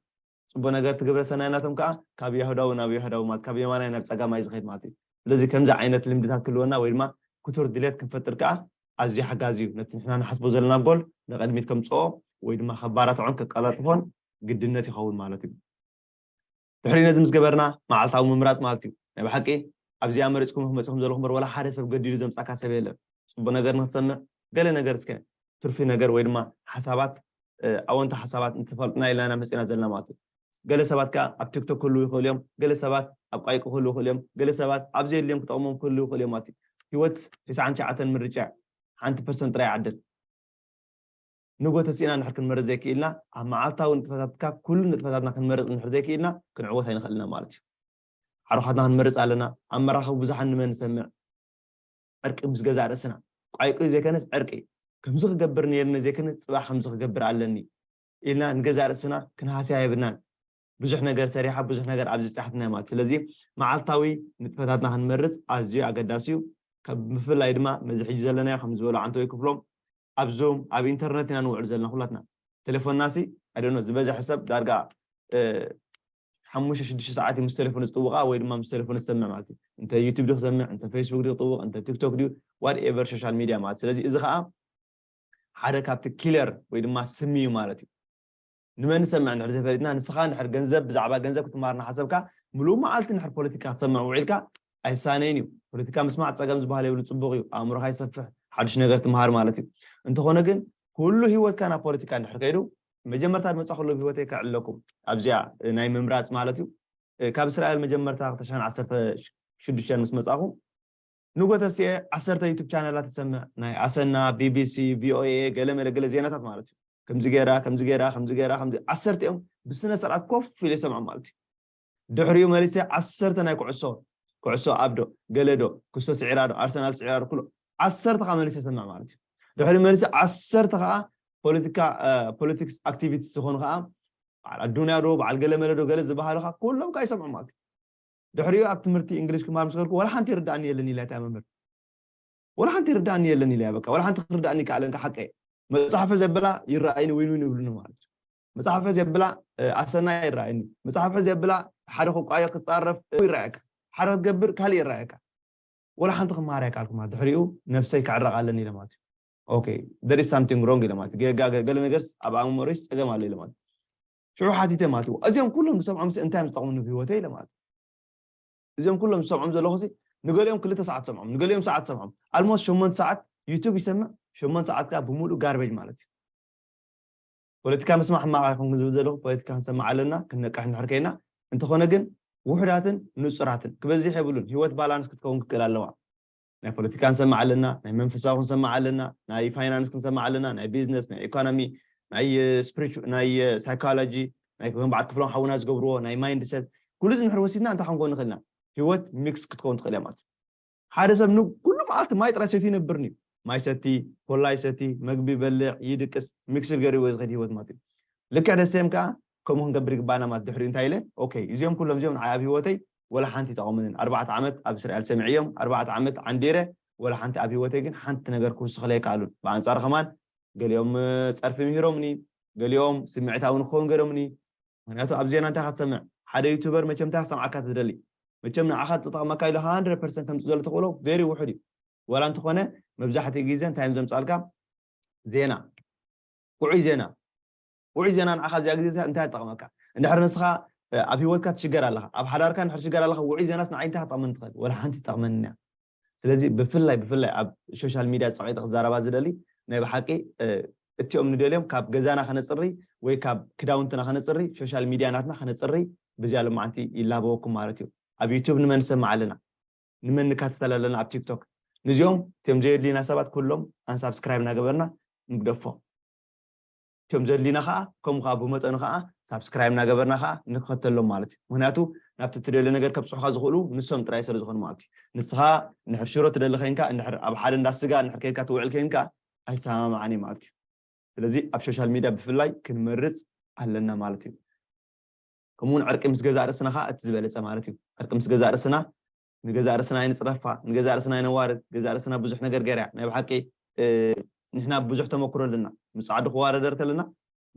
ጽቡቅ ነገር እቲ ግብረ ሰናይ ናቶም ከኣ ካብ ያሁዳዊ ናብ ያሁዳዊ ማለት ካብ የማናይ ናብ ጸጋማይ ዝኸይድ ማለት እዩ ስለዚ ከምዚ ዓይነት ልምድታት ክህልወና ወይ ድማ ክቱር ድሌት ክንፈጥር ከኣ ኣዝዩ ሓጋዚ እዩ ነቲ ንሕና ንሓስቦ ዘለና ጎል ንቅድሚት ከምጽኦ ወይ ድማ ከባራትዖን ከቀላጥፎን ግድነት ይኸውን ማለት እዩ ድሕሪ ነዚ ምስ ገበርና መዓልታዊ ምምራጽ ማለት እዩ። ናይ ብሓቂ ኣብዚኣ መሪጽኩም ኢኹም መጺኹም ዘለኹም እምበር ወላ ሓደ ሰብ ገዲዱ ዘምጻካ ሰብ የለን። ጽቡቅ ነገር ንክትሰምዕ ገለ ነገር እስከ ትርፊ ነገር ወይ ድማ ሓሳባት ኣወንታ ሓሳባት እንተፋልጥና ኢልና ኢና መጺና ዘለና ማለት እዩ። ገለ ሰባት ከኣ ኣብ ቲክቶክ ክህልዉ ይኽእሉ እዮም፣ ገለ ሰባት ኣብ ቋይቂ ክህልዉ ይኽእሉ እዮም፣ ገለ ሰባት ኣብ ዘየድልዮም ክጠቅሞም ክህልዉ ይኽእሉ እዮም ማለት እዩ። ህይወት ዒስራን ትሽዓተን ምርጫ እዩ። ሓንቲ ፐርሰንት ጥራይ ይዓድል። ንግሆ ተሲእና እንድሕር ክንመርጽ ዘይክኢልና፣ ኣብ መዓልታዊ ንጥፈታትካ ኩሉ ንጥፈታትና ክንመርጽ እንድሕር ዘይክኢልና ክንዕወት ኣይንኽእልን ኢና ማለት እዩ። ዓርዃትና ክንመርጽ ኣለና፣ ኣብ መራኸቢ ብዙሓን ንመን ንሰምዕ? ዕርቂ ምስ ገዛእ ርእስና። ቋይቊይ ዘይከነስ ዕርቂ። ከምዚ ክገብር ነይርኒ ዘይክን ጽባሕ ከምዚ ክገብር ኣለኒ። ኢልና ንገዛእ ርእስና ክንሃስያ የብልናን። ብዙሕ ነገር ሰሪሓ ብዙሕ ነገር ኣብዚ ኣብፂሓትና እያ ማለት እዩ። ስለዚ መዓልታዊ ንጥፈታትና ክንመርፅ ኣዝዩ ኣገዳሲ እዩ። ብፍላይ ድማ ነዚ ሕጂ ዘለናዮ ከም ዝበሎ ዓንተወይ ክፍሎም ኣብ ዙም ኣብ ኢንተርነት ኢና ንውዕል ዘለና ኩላትና። ቴሌፎንና ሲ ኣይ ዶንት ኖ ዝበዝሐ ሰብ ዳርጋ ሓሙሽተ ሽዱሽተ ሰዓት እዩ ምስ ቴሌፎን ዝጥውቓ ወይ ድማ ምስ ቴሌፎን ዝሰምዕ ማለት እዩ። እንተ ዩቱብ ድዩ ክሰምዕ እንተ ፌስቡክ ድዩ ክጥውቕ እንተ ቲክቶክ ድዩ ዋት ኤቨር ሶሻል ሚድያ ማለት ስለዚ እዚ ከዓ ሓደ ካብቲ ኪለር ወይ ድማ ስሚ እዩ ማለት እዩ። ንመን ንሰምዕ እንድሕር ዘይፈሊጥና ንስኻ እንድሕር ገንዘብ ብዛዕባ ገንዘብ ክትመሃር እናሓሰብካ ምሉእ መዓልቲ እንድሕር ፖለቲካ ክትሰምዕ ውዒልካ ኣይሳነይን እዩ ፖለቲካ ምስማዕ ፀገም ዝበሃል የብሉ ፅቡቕ እዩ ኣእምሮኻ ይሰፍሕ ሓዱሽ ነገር ትመሃር ማለት እዩ እንተኾነ ግን ኩሉ ሂወትካ ናብ ፖለቲካ እንድሕር ከይዱ መጀመርታ ድመፃኹሉ ኣብ ሂወተይ ከዕለኩም ኣብዚኣ ናይ ምምራፅ ማለት እዩ ካብ እስራኤል መጀመርታ ክተሻን ዓሰርተ ሽዱሽተን ምስ መፃኹ ንጎ ተስኤ ዓሰርተ ዩቱብ ቻነላት ትሰምዕ ናይ ኣሰና ቢቢሲ ቪኦኤ ገለ መለ ገለ ዜናታት ማለት እዩ ከምዚ ገይራ ከምዚ ገይራ ከምዚ ገይራ ከምዚ ዓሰርቲኦም ብስነ ስርዓት ኮፍ ኢለ ይሰምዖም ማለት እዩ ድሕሪኡ መሊሰ ዓሰርተ ናይ ኩዕሶ ኩዕሶ ኣብዶ ገለዶ ክስቶ ስዒራዶ ኣርሰናል ስዒራዶ ኩሎ ዓሰርተ ከዓ መሊሰ ሰምዕ ማለት እዩ ድሕሪ መሊሰ ዓሰርተ ከዓ ፖለቲካ ፖለቲክስ ኣክቲቪቲስ ዝኾኑ ከዓ በዓል ኣዱንያ ዶ በዓል ገለ መለዶ ገለ ዝበሃሉ ከዓ ኩሎም ከዓ ይሰምዑ ማለት እዩ ድሕሪኡ ኣብ ትምህርቲ እንግሊሽ ክማሃር ምስ ከድኩ ዋላ ሓንቲ ይርድኣኒ የለን ኢላ እታ መምህር ዋላ ሓንቲ ይርድኣኒ የለን ኢላ በቃ ዋላ ሓንቲ ክርድኣኒ ይከኣለን ሓቀይ መጽሓፈ ዘብላ ይረኣይኒ ዊን ዊን ይብሉኒ ማለት እዩ መጽሓፈ ዘብላ ኣሰና ይረኣይኒ መጽሓፈ ዘብላ ሓደ ክቋየ ክጻረፍ ይረኣየካ ሓደ ክትገብር ካልእ ይረኣየካ ወላ ሓንቲ ክመሃር ኣይከኣልኩማ ድሕሪኡ ነብሰይ ክዕረቕ ኣለኒ ኢለ ማለት እዩ ኦኬ ደር ሳምቲንግ ሮንግ ኢለ ማለት ገለ ነገርስ ኣብ ኣእምሮይስ ፀገም ኣሎ ኢለ ማለት ሽዑ ሓቲተ ማለት እዩ እዚኦም ኩሎም ዝሰምዖም ሲ እንታይ እዮም ዝጠቕሙኒ ብህይወተይ ኢለ ማለት እዩ እዚኦም ኩሎም ዝሰምዖም ዘለኹ ሲ ንገሊኦም ክልተ ሰዓት ትሰምዖም ንገሊኦም ሰዓት ትሰምዖም ኣልሞስ ሸሞንተ ሰዓት ዩቱብ ይሰምዕ ሸሞንተ ሰዓት ከዓ ብምሉእ ጋርቤጅ ማለት እዩ ፖለቲካ ምስማዕ ሕማቕ ይኹን ዝብል ዘለኹ ፖለቲካ ክንሰምዕ ኣለና ክንነቅሕ እንድሕር ከይና እንተኾነ ግን ውሑዳትን ንፁራትን ክበዝሕ የብሉን ህይወት ባላንስ ክትከውን ክትክእል ኣለዋ ናይ ፖለቲካ ክንሰምዕ ኣለና፣ ናይ መንፈሳዊ ክንሰምዕ ኣለና፣ ናይ ፋይናንስ ክንሰምዕ ኣለና፣ ናይ ቢዝነስ፣ ናይ ኤኮኖሚ፣ ናይ ስፕሪቹ ናይ ሳይኮሎጂ፣ ናይ ከም በዓል ክፍሎም ሓውና ዝገብርዎ ናይ ማይንድ ሰት፣ ኩሉ እዚ እንድሕር ወሲድና እንታይ ክንከውን ንኽእል ኢና? ህይወት ሚክስ ክትከውን ትኽእል እያ ማለት እዩ። ሓደ ሰብ ንኩሉ መዓልቲ ማይ ጥራይ ሰትዩ ይነብርን እዩ። ማይ ይሰቲ፣ ኮላ ይሰቲ፣ መግቢ ይበልዕ፣ ይድቅስ፣ ሚክስድ ገይሩ እዩ ዝኸይድ ህይወት ማለት እዩ። ልክዕ ደሴም ከኣ ከምኡ ክንገብር ይግባኣና ማለት ድሕሪኡ እንታይ ኢለ ኦከይ እዚኦም ኩሎም እዚኦም ንዓይ ኣብ ሂወተይ ወላ ሓንቲ ኣይጠቐሙንን ኣርባዕተ ዓመት ኣብ እስራኤል ሰሚዐዮም ኣርባዕተ ዓመት ዓንዲረ ወላ ሓንቲ ኣብ ሂወተይ ግን ሓንቲ ነገር ክውስኽለይ ኣይከኣሉን ብኣንጻሩ ከማን ገሊኦም ጸርፊ ምሂሮምኒ ገሊኦም ስምዒታዊ ንክኸውን ገይሮምኒ ምኽንያቱ ኣብ ዜና እንታይ ኢኻ ትሰምዕ ሓደ ዩቱበር መቸም እንታይ ክሰምዓካ ትደሊ መቸም ንዓኻ ዝጠቕመካ ኢሉ ሃንድረድ ፐርሰንት ከምጽእ ዘሎ ተኽእሎ ቬሪ ውሑድ እዩ ወላ እንተኾነ መብዛሕትኡ ግዜ እንታይ እዮም ዘምጻልካ ዜና ውዑይ ዜና ውዑይ ዜና ንዓኻ ኣብዚኣ ግዜ እዚኣ እንታይ ትጠቕመካ? እንድሕር ንስኻ ኣብ ህይወትካ ትሽገር ኣለኻ፣ ኣብ ሓዳርካ እንድሕር ትሽገር ኣለኻ፣ ውዑይ ዜናስ ንዓይ እንታይ ክትጠቕመኒ ትኽእል? ወላ ሓንቲ ትጠቕመኒ እያ። ስለዚ ብፍላይ ብፍላይ ኣብ ሾሻል ሚድያ ጸቒጠ ክዛረባ ዝደሊ ናይ ብሓቂ እቲኦም ንደልዮም ካብ ገዛና ከነጽሪ ወይ ካብ ክዳውንትና ከነጽሪ ሾሻል ሚድያ ናትና ከነጽሪ ብዚኣ ሎማዓንቲ ይላበወኩም ማለት እዩ። ኣብ ዩቱብ ንመን ንሰምዕ ኣለና? ንመን ንካተተል ኣለና ኣብ ቲክቶክ? ንዚኦም እቲኦም ዘየድልዩና ሰባት ኩሎም ኣንሳብስክራይብ እናገበርና ንግደፎም። ከም ዘድልዩና ከኣ ከምኡ ከኣ ብመጠኑ ከኣ ሳብስክራይብ እናገበርና ከኣ ንክኸተሎም ማለት እዩ ምክንያቱ ናብቲ ትደልዮ ነገር ከብጽሑካ ዝኽእሉ ንሶም ጥራይ ሰለ ዝኾኑ ማለት እዩ ንስኻ እንድሕር ሽሮ ትደሊ ከንካ እንድሕር ኣብ ሓደ እንዳ ስጋ እንድሕር ከድካ ትውዕል ከንካ ኣይሰማማዓን እዩ ማለት እዩ ስለዚ ኣብ ሾሻል ሚድያ ብፍላይ ክንመርጽ ኣለና ማለት እዩ ከምኡ ውን ዕርቂ ምስ ገዛእ ርእስና ከኣ እቲ ዝበለጸ ማለት እዩ ዕርቂ ምስ ገዛእ ርእስና ንገዛእ ርእስና ኣይንጽረፋ ንገዛእ ርእስና ኣይነዋርድ ገዛእ ርእስና ብዙሕ ነገር ገይራ እያ ናይ ብሓቂ ንሕና ብዙሕ ተመክሮ ኣለና ምስ ጻዓዱ ክዋረደር ከለና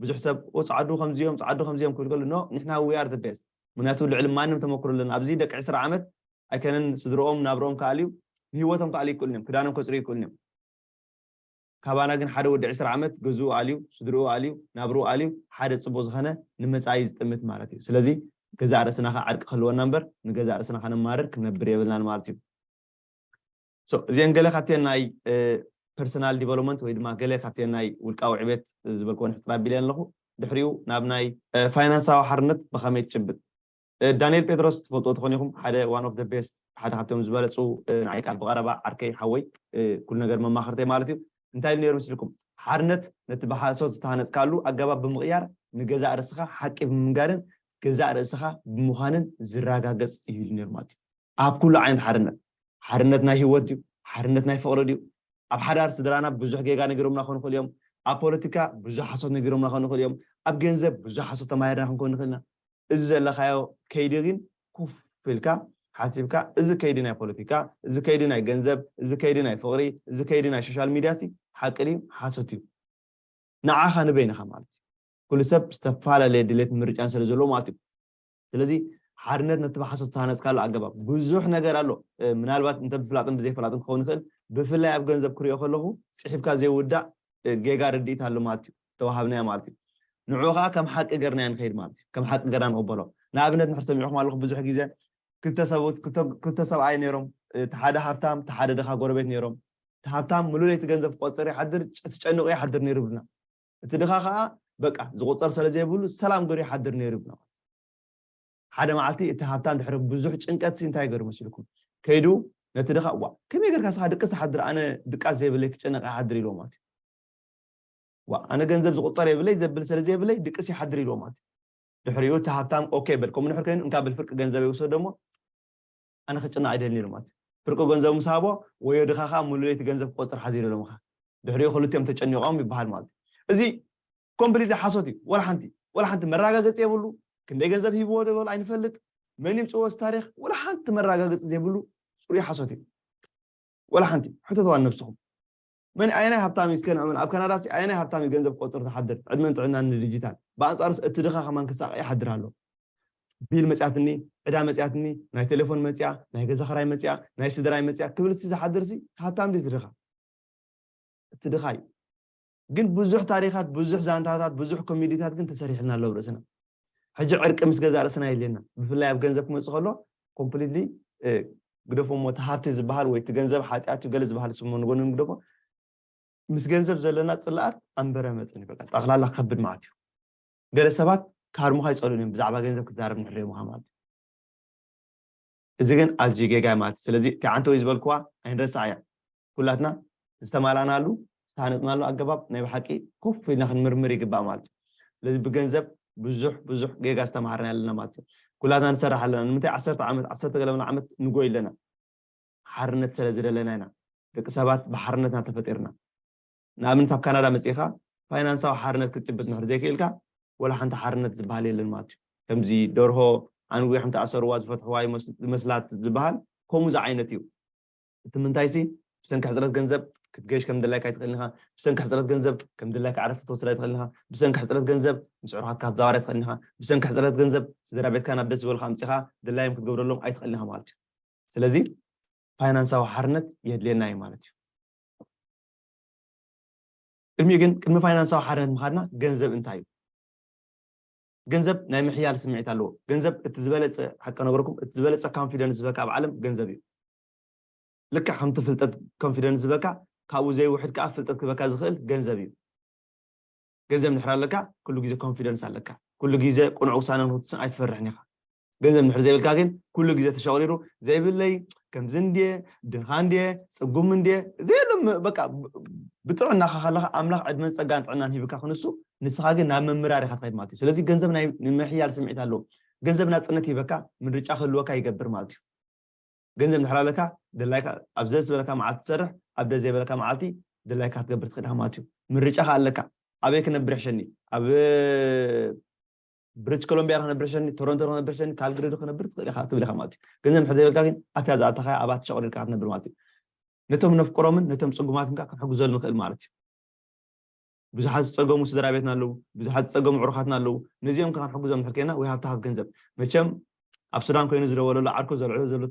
ብዙሕ ሰብ ኦ ጻዓዱ ከምዚኦም ጻዓዱ ከምዚኦም ክብል ከሉ ኖ ንሕና we are the best ምክንያቱ ልዕሊ ማንም ተመክሮ ኣለና ኣብዚ ደቂ ዕስራ ዓመት ኣይከነን ስድርኦም ናብርኦም ክኣልዩ ንህይወቶም ክኣልዩ ይክእሉን እዮም ክዳኖም ከጽርዩ ይክእሉን እዮም ካባና ግን ሓደ ወዲ ዕስራ ዓመት ገዝኡ ኣልዩ ስድርኡ ኣልዩ ናብርኡ ኣልዩ ሓደ ጽቡቅ ዝኸነ ንመጻኢ ዝጥምት ማለት እዩ ስለዚ ገዛእ ርእስና ከኣ ዕርቂ ክህልወና እምበር ንገዛእ ርእስና ከነማርር ክንነብር የብልናን ማለት እዩ so እዚኤን ገለ ካብተን ናይ ፐርሰናል ዲቨሎፕመንት ወይ ድማ ገለ ካብተን ናይ ውልቃዊ ዕቤት ዝበልክወን ሕጽር ኣቢለየን ኣለኹ ድሕሪኡ ናብ ናይ ፋይናንሳዊ ሓርነት ብኸመይ ትጭብጥ ዳኒኤል ጴጥሮስ ትፈልጥዎ ትኾኑ ኢኹም ሓደ one of the best ሓደ ካብቶም ዝበለጹ ንዓይ ከኣ ብቐረባ ዓርከይ ሓወይ ኩሉ ነገር መማኽርተይ ማለት እዩ እንታይ ኢሉ ነይሩ ምስልኩም ሓርነት ነቲ ብሓሶት ዝተሃነጽካሉ ኣገባብ ብምቕያር ንገዛእ ርእስኻ ሓቂ ብምንጋርን ገዛእ ርእስኻ ብምዃንን ዝረጋገጽ እዩ ኢሉ ነይሩ ማለት እዩ ኣብ ኩሉ ዓይነት ሓርነት ሓርነት ናይ ህይወት ድዩ ሓርነት ናይ ፍቕሪ ድዩ ኣብ ሓዳር ስድራና ብዙሕ ጌጋ ነጊሮምና ክኾኑ ይኽእሉ እዮም ኣብ ፖለቲካ ብዙሕ ሓሶት ነጊሮምና ክኾኑ ይኽእሉ እዮም ኣብ ገንዘብ ብዙሕ ሓሶት ተማሂርና ክንኮን ንኽእል ኢና እዚ ዘለኻዮ ከይዲ ግን ኮፍ ኢልካ ሓሲብካ እዚ ከይዲ ናይ ፖለቲካ፣ እዚ ከይዲ ናይ ገንዘብ፣ እዚ ከይዲ ናይ ፍቕሪ፣ እዚ ከይዲ ናይ ሾሻል ሚድያሲ ሓቂ ድዩ ሓሶት እዩ ንዓኻ ንበይንኻ ማለት እዩ። ኩሉ ሰብ ዝተፈላለየ ድሌትን ምርጫን ስለ ዘለዎ ማለት እዩ። ስለዚ ሓድነት ነቲ ብሓሶት ዝተሃነፅካሉ ኣገባብ ብዙሕ ነገር ኣሎ ምናልባት እንተብፍላጥን ብዘይፍላጥን ክኸውን ይኽእል ብፍላይ ኣብ ገንዘብ ክሪኦ ከለኹ ፅሒፍካ ዘይውዳእ ጌጋ ርድኢት ኣሎ ማለት እዩ፣ ዝተዋሃብናዮ ማለት እዩ። ንዕኡ ከኣ ከም ሓቂ ገርናዮ ንኸይድ ማለት እዩ፣ ከም ሓቂ ገርና ንቕበሎ። ንኣብነት ንሕር ሰሚዕኹም ኣለኹም ብዙሕ ግዜ ክልተ ሰብኡት ክልተ ሰብኣይ ነይሮም እቲ ሓደ ሃብታም እቲ ሓደ ድኻ ጎረቤት ነይሮም እቲ ሃብታም ምሉእ ለይቲ ገንዘብ ክቆጽር ይሓድር ተጨንቑ ይሓድር ነይሩ ይብሉና እቲ ድኻ ከኣ በቃ ዝቑጸር ስለ ዘይብሉ ሰላም ገሩ ይሓድር ነይሩ ይብሉና ሓደ መዓልቲ እቲ ሃብታም ድሕሪ ብዙሕ ጭንቀትሲ እንታይ ይገብር መሲልኩም? ከይዱ ነቲ ድኻ ዋእ ከመይ ጌርካ ንስኻ ድቅስ ትሓድር ኣነ ድቃስ ዘይብለይ ክጨነቅ ኣይሓድር ኢልዎ ማለት እዩ። ዋእ ኣነ ገንዘብ ዝቁጸር የብለይ ዘብል ስለዘይብለይ ድቅስ ይሓድር ኢልዎ ማለት እዩ። ድሕሪኡ እቲ ሃብታም ኦኬ በል ከምኡ ድሕሪ ከይኑ እንካ በል ፍርቂ ገንዘበይ ውሰዶ እሞ ኣነ ክጭነቕ ኣይደልን ኢሉ ማለት ፍርቂ ገንዘቡ ምስ ሃቦ ወዮ ድኻ ከኣ ሙሉእ ለይቲ ገንዘብ ክቆጽር ሓዚሉ ኢሎም ከኣ ድሕሪኡ ክልቲኦም ተጨኒቖም ይበሃል ማለት እዩ እዚ ኮምፕሊትሊ ሓሶት እዩ ወላ ሓንቲ ወላ ሓንቲ መረጋገጺ የብሉ ክንደይ ገንዘብ ሂብዎ ደበሉ ኣይንፈልጥ መን ይምጽዎ እዚ ታሪኽ ወላ ሓንቲ መረጋገጺ ዘይብሉ ጽሩይ ሓሶት እዩ ወላ ሓንቲ ሕተትዋ ንነብስኹም መን ኣየናይ ሃብታም እዩ እስከ ንዕመል ኣብ ካናዳ ሲ ኣየናይ ሃብታም እዩ ገንዘብ ቆጽሩ ትሓድር ዕድመን ጥዕናን ንድጂታል ብኣንጻሩስ እቲ ድኻ ከማን ክሳቀ ይሓድር ኣሎ ቢል መጽያትኒ ዕዳ መጽያትኒ ናይ ቴሌፎን መጽያ ናይ ገዛ ክራይ መጽያ ናይ ስድራይ መጽያ ክብል ሲ ዝሓድር ሲ ሃብታም ድዩ ድኻ እቲ ድኻ እዩ ግን ብዙሕ ታሪኻት ብዙሕ ዛንታታት ብዙሕ ኮሜዲታት ግን ተሰሪሕልና ኣሎ ኣብ ርእስና ሕጂ ዕርቂ ምስ ገዛእ ርእስና የድልየና ብፍላይ ኣብ ገንዘብ ክመጽእ ከሎ ኮምፕሊትሊ ግደፎ እሞ እቲ ሃብቲ ዝበሃል ወይ እቲ ገንዘብ ሓጢኣት እዩ ገለ ዝበሃል ስሞ ንጎኒ ንግደፎ ምስ ገንዘብ ዘለና ጽላኣት ኣንበረ መጠን እዩ በቃ ጠቕላላ ከብድ ማለት እዩ ገለ ሰባት ክሃርሙኻ ይጸልኡን እዮም ብዛዕባ ገንዘብ ክትዛረብ ንሕልዮምኻ ማለት እዩ እዚ ግን ኣዝዩ ጌጋ እዩ ማለት እዩ። ስለዚ እቲ ዓንተውይ ዝበልክዋ ኣይንረስዓያ። ኩላትና ዝተማላእናሉ፣ ዝተሃነጽናሉ ኣገባብ ናይ ብሓቂ ኮፍ ኢልና ክንምርምር ይግባእ ማለት እዩ። ስለዚ ብገንዘብ ብዙሕ ብዙሕ ጌጋ ዝተማሃርና ኣለና ማለት እዩ። ኩላትና ንሰርሕ ኣለና። ንምንታይ ዓሰርተ ዓመት ዓሰርተ ገለ ምናምን ዓመት ንጎይ ኣለና? ሓርነት ሰለ ዝደለና ኢና። ደቂ ሰባት ብሓርነትና ተፈጢርና። ንኣብነት ኣብ ካናዳ መጺእካ ፋይናንሳዊ ሓርነት ክትጭብጥ እንድሕር ዘይክኢልካ ወላ ሓንቲ ሓርነት ዝበሃል የለን ማለት እዩ። ከምዚ ደርሆ ኣንዊሖም ተኣሰርዋ ዝፈትሕዋ እዩ ዝመስላት ዝበሃል ከምኡ ዝዓይነት እዩ። እቲ ምንታይሲ ብሰንኪ ሕጽረት ገንዘብ ክትገይሽ ከም ድላይካ ኣይትኽእልን ኢኻ፣ ብሰንኪ ሕጽረት ገንዘብ ከም ድላይካ ዕረፍቲ ክትወስድ ኣይትኽእልን ኢኻ፣ ብሰንኪ ሕጽረት ገንዘብ ምስ ኣዕሩኻትካ ክትዛወር ኣይትኽእልን ኢኻ፣ ብሰንኪ ሕጽረት ገንዘብ ስድራቤትካ ናብ ደስ ዝበልካ ኣምጺእካ ድላዮም ክትገብረሎም ኣይትኽእልን ኢኻ ማለት እዩ። ስለዚ ፋይናንሳዊ ሓርነት የድልየና እዩ ማለት እዩ። ቅድሚኡ ግን ቅድሚ ፋይናንሳዊ ሓርነት ምኻድና ገንዘብ እንታይ እዩ? ገንዘብ ናይ ምሕያል ስምዒት ኣለዎ። ገንዘብ እቲ ዝበለጸ ሓቂ ከነግረኩም እቲ ዝበለጸ ካንፊደንስ ዝህበካ ኣብ ዓለም ገንዘብ እዩ። ልክዕ ከምቲ ፍልጠት ኮንፊደንስ ዝህበካ ካብኡ ዘይውሕድ ከኣ ፍልጠት ክህበካ ዝኽእል ገንዘብ እዩ። ገንዘብ እንድሕር ኣለካ ኩሉ ግዜ ኮንፊደንስ ኣለካ። ኩሉ ግዜ ቅኑዕ ውሳነ ንኽትውስን ኣይትፈርሕን ኢኻ። ገንዘብ እንድሕር ዘይብልካ ግን ኩሉ ግዜ ተሸቕሪሩ ዘይብለይ ከምዚ እንድየ ድኻ እንድየ ጽጉም እንድየ ዘየሎ በቃ ብጥዕናኻ ከለኻ ኣምላኽ ዕድመን ጸጋን ጥዕናን ሂብካ ክንሱ ንስኻ ግን ናብ ምምራር ኢኻ ትኸይድ ማለት እዩ ስለዚ ገንዘብ ናይ ምሕያል ስምዒት ኣለዎ ገንዘብ ናጽነት ሂበካ ምርጫ ክህልወካ ይገብር ማለት እዩ ገንዘብ እንድሕር ኣለካ ድላይካ ኣብ ዘስ ዝበለካ መዓልቲ ትሰርሕ ኣብ ደስ ዘይበለካ መዓልቲ ድላይካ ክትገብር ትኽእል ኢኻ ማለት እዩ ምርጫኻ ኣለካ ኣበይ ክነብር ሕሸኒ ኣብ ብሪትሽ ኮሎምብያ ክነብር ሸኒ ቶሮንቶ ክነብር ሸኒ ካልግሪ ዶ ክነብር ትኽእል ኢኻ ትብል ኢኻ ማለት እዩ ገንዘብ ንድሕር ዘይብልካ ግን ኣታ ዝኣተኻያ ኣብኣ ተሸቕሪርካ ክትነብር ማለት እዩ ነቶም ነፍቅሮምን ነቶም ፅጉማትን ከዓ ክንሕግዘሉ ንኽእል ማለት እዩ ብዙሓት ዝፀገሙ ስድራ ቤትና ኣለዉ ብዙሓት ዝፀገሙ ዕሩኻትና ኣለዉ ነዚኦም ከዓ ክንሕግዞም ንድሕር ኮይና ወይ ሃብታ ካብ ገንዘብ መቸም ኣብ ሱዳን ኮይኑ ዝደወለሉ ዓርኩ ዘልዕሎ ዘሎ